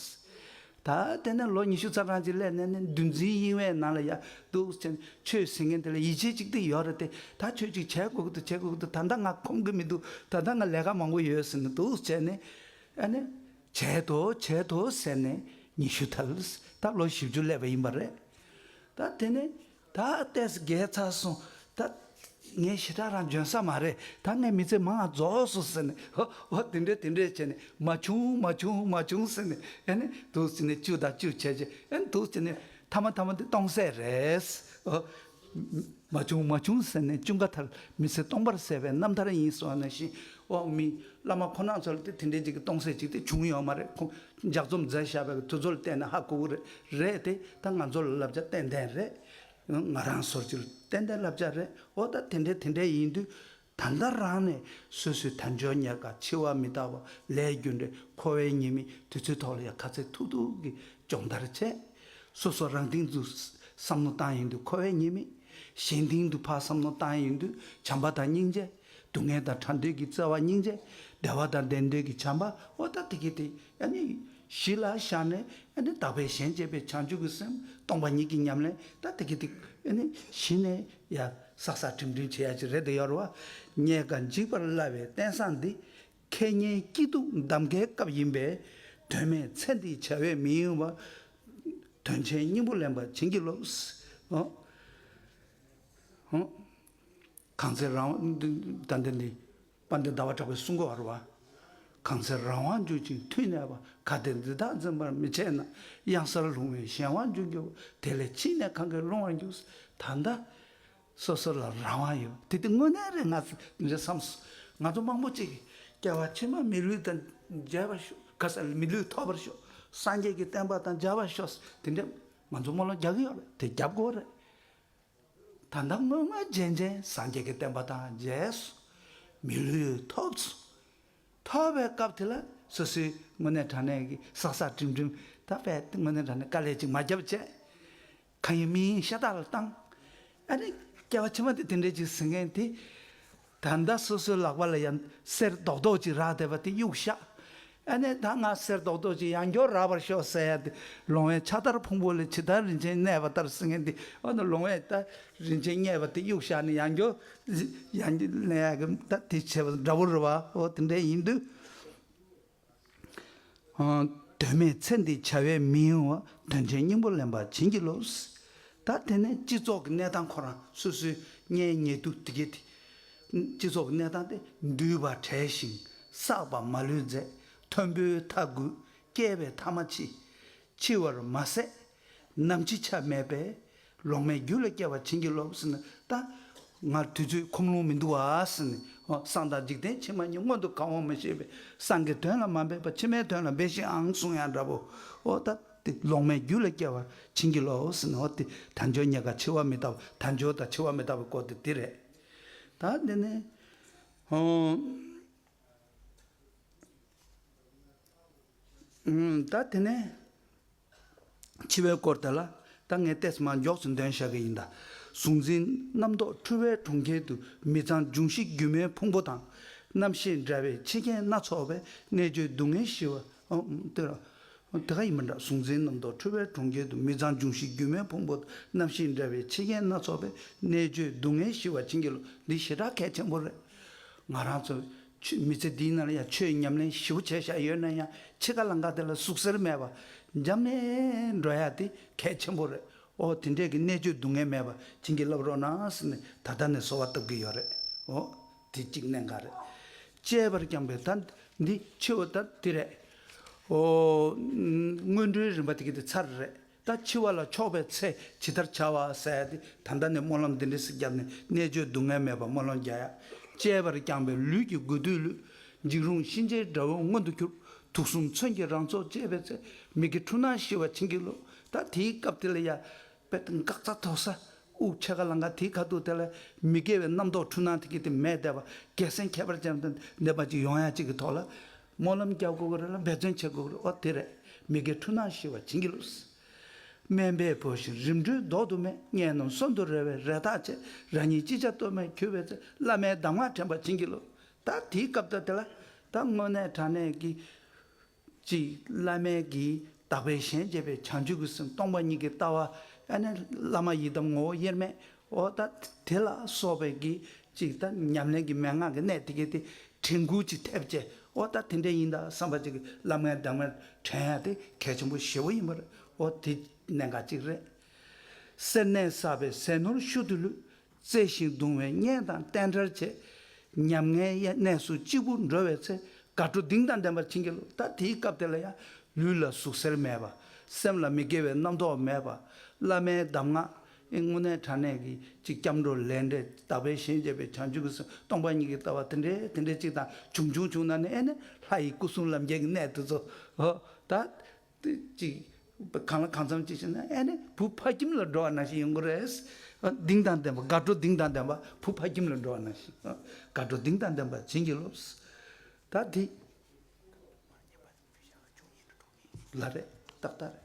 ད་ལྟས་ན་ལོ་ཉི་ཤུ་རྩ་གྲངས་ཅིག་སླེབས་ནས་ནི་འདུལ་འཛིན་དབྱིངས་བའི་ནང་ལ་ཡར་འདུག་ཟེར་ནས་ཆོས་ཟེར་མཁན་དེ་ལ་ཡིད་ཆེས་ཅིག་དེ་ཡོད་རེད་དེ་ད་ཆོས་ཅིག་བྱེད་དགོས་ཀྱི་འདུག་བྱེད་དགོས་ཀྱི་འདུག་ད་ལྟ་ང་ཁོམ་གྱི་མི་འདུག་ད་ལྟ་ང་ལས་ཀ་མང་པོ་ཡོད་ཟེར་ནས་འདུག་བྱས་ནས་ཨ་ནི་བྱས་ཐོ་བྱས་ཐོ་ཟེར་ནས་ཉི་ཤུ་ཐལ་ད་ལོ་བཞི་བཅུ་སླེབས་པ་ཡིན་པ་རེད་ད་དེ་ནས་ད་ལྟས་རྒས་ཚར་སོང་ད་ངས་ཞེ་དྲག་རང་འཇོན་ས་མ་རེད་ད་ངའི་མི་ཚེ་མང་རྫོགས་སོང་ཟེར་ནས་ཧོ་ཧོ་དེ་འདྲས་དེ་འདྲས་བྱས་ནས་མ་བྱུང་མ་བྱུང་མ་བྱུང་ཟེར་ནས་ཨེ་ནས་དུས་ཚོད་ནས་བཅུ་དང་བཅུ་བྱས་བྱས་ཨེ་དུས་ཚོད་ནས་མཐའ་མ་མཐའ་མ་དེ་སྟོང་ཟད་རེད། མ་བྱུང་མ་བྱུང་ཟེར་ནས་ཅུང་ག་ཐར་མི་ཚེ་སྟོང་པར་ཟད་པའི་རྣམ་ཐར་ཡིན་གསུང་བ་ནང་བཞིན་འོག་མིན་བླ་མ་ཁོ་ན་ཚོ་ལ་དེ་དེ་འདྲའི་ཅིག་གི་སྟོང་ཟད་ཅིག་དེ་བྱུང་ཡོད་མ་རེད་ཇག་རྩོམ་མཛད་ཞབས་པའི་དུས་ཚོད་ལ་བལྟས་ན་ཧ་གོ་གི་རེད་དེ་ད་ང་ཚོ་ལ་བསླབ་བྱ་ཏན་ཏན་རེད། ང་རང་ཚོར་ཅིག་ཏན་ཏན་བསླབ་བྱ་རེད་འོ་ད་དེ་འདྲ་དེ་འདྲ་ཡིན་དུས་ད་ལྟ་རང་ནས་སོ་སོའི་དལ་འབྱོར་ཉེར་ཁ་འཆི་བ་མི་རྟག་པ་ལས་རྒྱུ་འབྲས་འཁོར་བའི་ཉེས་མིག་དུས་ཚོད་ཐོག་ལ་ཡང་ཁ་ཚེགས་ཐུག་ཐུག་གིས་སྦྱོང་བརྡར་བྱས། སོ་སོ་རང་སྟེང་དུ་བསམ་མནོ་བཏང་ཡོང་དུས་འཁོར་བའི་ཉེས་མིག། གཞན་སྟེང་དུ་ཕར་བསམ་མནོ་བཏང་ཡོང་དུས་བྱམས་པ་དང་སྙིང་རྗེ། སྡུག་བསྔལ་དང་ཕྲ་འདོད་ཀྱི་བརྩེ་བ་སྙིང་རྗེ། བདེ་བ་དང་བདེ་འདོད་ཀྱི་བྱམས་པ་བ་ད་ཏི་གི་ཏི་ཡ་ནི། གཞི་ལ་བཞག་ནས་ཡ་ནི་དག་པའི་ཞེན་བཅད་པའི་བྱང་ཆུབ་ཀྱི་སེམས་སྟོང་པ་ཉིད་ཀྱི་ཉམས་ལེན་ད་ཏི་གི་ཏི་ཡ་ནི། གཞི་ནས་ཡ། བསགས་བསགས་ཁྲིམས་ཁྲིམས་བྱེད་ཡ་ཅིག་རེད་འདི་ཡོར་བ། རྙེད་དཀའ་འཇིགས་པར་སླ་བའི་བསྟན་བཟང་འདི། ཁེ་ཉེན་སྐྱིད་སྡུག་འདམ་ཀའི་སྐབས་ཡིན་པས། དོན་མེད་ཚེ་འདིའི་བྱ་བས་མི་གཡེང་བ། དོན་ཆེན་སྙིང་པོ་ལེན་པར་བྱིན་གྱིས་རློབས། གང་ཚེ་རང་དགྲ་འདི། པ་འདི་ཟླ་བ་གྲགས་པའི་སྲུང་འཁོར་བ། གང་ཚེ་རང་དབང་འགྱུར་ཅིང་ཐུགས་གནས་པ་ག་དེས་འདི་དག་འཛིན་པར་མི་བྱེད་ན་གཡང་སར་ལྷུང་བའི་གཞན་དབང་འགྱུར་འགྱུར་བ་དེ་ལས་ཕྱིས་ནས་གང་གིས་སློང་བར་འགྱུར། ད་ལྟ་སོ་སོ་ལ་རང་དབང་ཡོད་པ་དེ་དེ་དངོས་གནས་རེད་ང་ཚོས་འདི་འདྲ་བསམས་སོ། ང་ཚོ་མང་པོ་གཅིག་སྐྱེ་བ་ཕྱི་མ་མི་ལུས་དང་མཇལ་བར་ཤོག་ག་ས་ལས་མི་ལུས་ཐོབ་པར་ཤོག་སངས་རྒྱས་ཀྱི་བསྟན་པ་དང་མཇལ་བར་ཤོག་དེ་འདྲའི་ང་ཚོ་སྨོན་ལམ་རྒྱག་གི་ཡོད་རེད་དེ་རྒྱབ་སྒོ་རེད། ད་ལྟ་སྔོན་མ་རྗེན་རྗེན་སངས་རྒྱས་ཀྱི་བསྟན་པ་དང་རྗེས་སུ་མི་ལུས་ཐོབ་ཚུལ་མཐོ་བའི་སྐབས་དེ་ལ་སོ་སོའི་དངོས་གནས་དྲང་གནས་ཀྱི་ཟག་ཟག་འགྲིམ་འགྲིམ་ད་པས་དངོས་གནས་དྲང་གནས་དཀའ་ལས་ཅིག་མ་བརྒྱབ་ཅེས་གང་ཡིན་མི་ཡིན་ཤ་སྟག་ལ་བཏང། ཨ་རིག་སྐྱེ་བ་ཕྱི་མ་དེ་དེ་འདྲས་ཅིག་ཟེར་མཁན་དེ། ད་ལྟ་སོ་སོའི་ལག་པ་ལ་ཡང་གསེར་རྡོག་རྡོག་ཅིག་རག་བསྡད་པ་དེ་གཡུག་ཤག་ཨ་ནེ་ད་ང་གསེར་རྡོག་རྡོག་ཅིག་ཡང་སྐྱོར་རག་པར་ཤོག་ཟེར་ཡ་དེ་ལོང་བས་ཕྱག་དར་ཕུང་པོ་ལས་ཇི་ལྟར་རིན་ཆེན་གནས་པ་ལྟར་སེང་ངེ་འདི་འོ་ན་ལོང་བས་ད་རིན་ཆེན་རྙེད་པ་དེ་གཡུག་ཤག་ནི་ཡང་སྐྱོར་ཡང་ལེན་ཡ་གི་ད་དེ་བྱས་པ་འདྲ་བོ་རེད་བ་ཧོ་དེ་འདྲས་ཡིན་དུས། དོན་མེད་ཚེ་འདི་བྱ་བའི་མིའོ། དོན་ཆེན་སྙིང་པོ་ལེན་པར་བྱིན་གྱིས་རློབས། ད་དེ་ནས་སྤྱི་ཚོགས་ཀྱི་གནས་སྟངས་ཁོ་རང་སོ་སོའི་གཉེན་ཉེ་དུ་དགེ་སྡིག། སྤྱི་ཚོགས་ཀྱི་གནས་སྟངས་དེ་འདུལ་བར་བྲལ་ཞིང་བསགས་པ་མ་ལུས་མཛད། མཐོན་པོའི་མཐའ་དགུས་བསྐལ་པའི་མཐའ་མ་འཆི། འཆི་བར་མ་ཟད་ནམ་ཅི་ཆ་མེད་པས་ལོག་མེད་རྒྱུད་ལ་སྐྱེ་བར་བྱིན་གྱིས་རློབས། ཟིན་ཏ། ང་དུས་ཚོད་ཁོམ་ལོང་མི་འདུག་བ། ཟིན་ནས། སང་དང་འཇིག་རྟེན་ཕྱི་མ་གཉིས་སྔོན་དུ་གང་འོང་མི་ཤེས་པས་སང་གི་དོན་ལ་མ་འབད་པར་ཕྱི་མའི་དོན་ལ་འབད་ཤིག་ཨང་གསུང་ཡང་འདྲ་བོ། ཨོ་ད། ཏི། ལོག་མེད་རྒྱུད་ལ་སྐྱེ་བར་བྱིན་གྱིས་རློབས། ཟིན་ནས། ཨོ་ཏི། དལ་འབྱོར་རྙེད་དཀའ་འཆི་བ་མི་ལྟ་བུ། དལ་འབྱོར་དང་འཆི་བ་མི་ལྟ་བུའི་སྐོར་དེ་འདི་རེད། ད། འདི་ནི། ད། དེ་ནས། འཆི་བའི་སྐོར་དེ་ལ་ད་ངས་ཏེས་མ་མགྱོགས་སུ་འདོན་བཞག་གི་ཡིན་ད། གཟུང་འཛིན་རྣམ་རྟོག་འཁྲུལ་བའི་གྲོང་ཁྱེར་དུ་མི་ཚང་འབྱུང་བཞི་སྒྱུ་མའི་ཕུང་པོ་དང། རྣམ་ཤེས་འདྲ་བའི་འཆི་རྐྱེན་སྣ་ཚོགས་པའི་གནད་གཅོད་སྡུག་བསྔལ་ཞི་བ། དེ་ལ་དེ་ག་ཡིན་པ་འདྲ་གཟུང་འཛིན་རྣམ་རྟོག་འཁྲུལ་བའི་གྲོང་ཁྱེར་དུ་མི་ཚང་འབྱུང་བཞི་སྒྱུ་མའི་ཕུང་པོ་དང་རྣམ་ཤེས་འདྲ་བའི་འཆི་རྐྱེན་སྣ་ཚོགས་པའི་གནད་གཅོད་སྡུག་བསྔལ་ཞི་བ་བྱིན་གྱིས་རློབས་འདི་ཞེ་དྲག་གལ་ཆེན་པོ་རེད། ང་རང་ཚོ་ཆུས་མི་ཚེ་འདིའི་ནང་ཡང་ཆོས་ཉམས་ལེན་བཞི་བོ་བྱས་བཞག་ཡོད་ན་ཡང་ཕྱེད་ཀ་ལང་ཀ་དེ་ལ་ཟུག་གཟེར་མེད་པར་འབྱམས་ནས་འགྲོ་ཡག་དེ་གལ་ཆེན་པོ་རེད་འོ་དེ་འདྲས་ཀྱི་གནད་གཅོད་སྡུག་བསྔལ་མེད་པར་བྱིན་གྱིས་བརླབས་རོགས་གནང་ཟེར་ནས་ད་ལྟ་ནས་གསོལ་བ་བཏབ་ཀྱི་ཡོད་རེད་འོ་དེ་གཅིག་གནད་འགག་རེད། བཅས་པར་བསྐྱངས་པའི་ད་འདི་ཆོས་འོ་ད་འདི་རེད་འོ། སྔོན་འགྲོའི་རིམ་པ་དེ་གི་དེ་ཚར་རེད། ད་འཆི་བ་ལ་ཕྱོགས་པའི་ཚེ་ཇི་ལྟར་བྱ་བ་གསལ་ཏེ་ད་ལྟ་ནས་སྨོན་ལམ་འདི་འདྲི་སི་བརྒྱབ་ནས་གནད་གཅོད་སྡུག་བསྔལ་མེད་པར་སྨོན་ལམ་བརྒྱ་ཡག་བཅས་པར་བསྐྱངས་པས་ལུས་ཀྱི་དགོས་འདོད་ལུས་འཇིགས་རུང་གཤིན་རྗེའི་དགྲ་བོ་མངོན་དུ་གྱུར། དུག་གསུམ་མཚོན་གྱིས་རང་ཚོགས་བཅད་པའི་ཚེ་མིག་གི་འཁྲུལ་སྣང་ཞི་བ་བྱིན་གྱིས་རློབས། ད་དེའི་སྐབས་དེ་ལ་ཡ། པད་དང་སྐག་ཚ་ཐོག་ས་དབུགས་ཆད་ག་ལ་འགའ་དེའི་ཁ་ཐུག་དེ་ལ་མི་དགེ་བའི་རྣམ་རྟོག་འཁྲུལ་སྣང་དེ་གི་དེ་མས་བདེ་བ་རྒྱལ་སེང་ཁྱད་པར་ཅན་དང་ལྡན་པ་ཅིག་ཡོང་ཡ་གཅིག་གི་ཐོག་ལ། སྨོན་ལམ་རྒྱག་དགོས་ཀྱི་རེད་ལ་འབད་བརྩོན་བྱེད་དགོས་ཀྱི་རེད་འོ་དེ་རེད་མི་དགེ་འཁྲུལ་སྣང་ཞི་བ་བྱིན་གྱིས་རློབས། སྨན་པའི་བུ་བཞིན་རིམ་གྲོའི་མདོག་དུ་མས་སྙན་རྣམས་གསོན་དུ་རེ་བའི་རེ་ཐག་ཆད་རང་ཉིད་ཅི་བྱ་གཏོལ་མེད་གྱུར་བའི་ཚེ་བླ་མའི་གདམས་ངག་དྲན་པ་བྱིན་གྱིས་རློབས། ད་དེའི་སྐབས་ད་དེ་ལ་ད་དངོས་གནས་དྲང་གནས་ཀྱི། གཅིག་བླ་མའི་གིས་བདག་པས་གཞན་གཅེས་པའི་བྱང་ཆུབ་ཀྱི་སེམས་སྟོང་པ་ཉིད་ཀྱི་ལྟ་བ་ཨ་ནེ་བླ་མ་ཡི་དམ་ངོ་བོ་དབྱེར་མེད་ཨོ་ད་དེ་ལ་སོགས་པའི་གི་ཅིག་ད་ཉམས་ལེན་གྱི་མན་ངག་གི་གནད་དེ་གའི་དེ་དྲན་སྐུལ་གྱི་ཐེབས་ཅད་ཨོ་ད་དེ་འདྲས་ཡིན་ད་བསམ་པ་ཅིག་གི་བླ་མའི་བདག་མེད་དྲན་ཡ་དེ་གལ་ཆེན་པོ་ཞེ་བོ་ཡིན་པ་རེད་ཨོ་དེ་གནད་འགག་ཅིག་རེད། སེར་སྣས་བསགས་པའི་ཟས་ནོར་ཤུལ་དུ་ལུས། བརྩེ་ཞིང་གདུང་བའི་གཉེན་དང་བསྟན་དར་བྱས། ཉམ་ངའི་གནས་སུ་གཅིག་པུར་འགྲོ་བའི་ཚེ། དགའ་སྤྲོ་གདིང་དང་ལྡན་པར་བྱིན་གྱིས་རློབས། ད་དེའི་སྐབས་དེ་ལ་ཡང་ལུས་ལ་ཟུག་གཟེར་མེད་པ། སེམས་ལ་མི་དགེ་བའི་རྣམ་རྟོག་མེད་པ། བླ་མའི་གདམས་ངག་དངོས་གནས་དྲང་གནས་ཀྱི་གཅིག་སྐྱབས་འགྲོ་ལས་འབྲས་རྟག་པའི་ཞེན་བཅས་པའི་བྱང་ཆུབ་ཀྱི་སེམས་སྟོང་པ་ཉིད་ཀྱི་ལྟ་བ་དེ་འདྲའི་དེ་འདྲའི་གཅིག་དང་བྱུང་བྱུང་བྱུང་ན་ནི་ཨེ་ནི་ལྷ་ཡི་སྐུ་གསུམ་ལམ་བརྒྱད་ཀྱི་གནད་དུ་གསོལ། ཧོ། ད། དེ་གཅིག། གང་ལ་གང་འཚམ་གཅིག་བྱས་ན་ཨེ་ནི་བུ་ཕ་ཁྱིམ་ལ་འགྲོ་བ་ན་ཞིག་ཡོང་གི་རེད། གདིང་དང་ལྡན་པ་དགའ་སྤྲོ་གདིང་དང་ལྡན་པ་བུ་ཕ་ཁྱིམ་ལ་འགྲོ་བ་ན་ཞིག་དགའ་སྤྲོ་གདིང་དང་ལྡན་པ་བྱིན་གྱིས་རློབས། ད་དེ། ལ་རེད་ཏག་ཏག་རེད།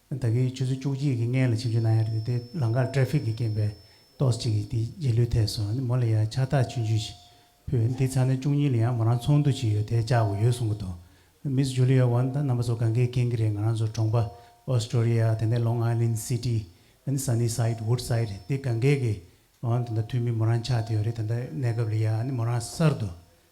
ད་གིན་ཆུ་ཚོད་བཅུ་གཅིག་གི་སྔན་ལ་ཆིབས་ཆུ་ན་ཡར་དེད་དེ་ལང་ཀར་ཏྲེ་ཕིག་གི་རྐྱེན་པས་ཏོགས་གཅིག་གིས་དེ་རྗེས་ལུས་ཐེད་སོང་དེ་མོ་ལ་ཡང་ཕྱག་རྟགས་ཆུན་ཆུན་ཞིག་ཕུལ་འདི་ཚང་ནས་བཅུ་གཉིས་ལ་ཡང་མོ་རང་ཚོང་འདུ་ཅིག་ཡོད་དེ་བཅར་དགོས་ཡོད་གསུང་གི་འདུག་མི་ཚོ Julia Wan དང་རྣམ་པ་ཚོ་ག་འགའི་རྐྱེན་གྱིས་རེད་ང་རང་ཚོ་གྲོང་པ Astoria དེ་ནས Long Island City དེ་ནས Sunnyside Woodside དེ་ག་འགའི་གིས་འོང་དེ་འདྲ་ཐུག་མིན་མོ་རང་ཆགས་དེ་ཡོད་རེད་དེ་འདྲ་གནས་སྐབས་ལ་ཡང་མོ་རང་གསར་དུ་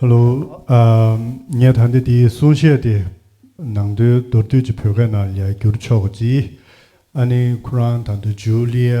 ཧལོ། ངས་ད་ལྟ་འདིའི་གསུང་བཤད་དེ་ནང་དོན་མདོར་བསྡུས་ཀྱི་བོད་སྐད་ནང་ལས་བསྒྱུར་ཆོག་ཅིག་ཨ་ནི་ཁོ་རང་དང་དུ་ཇུ་ལི་ཡ།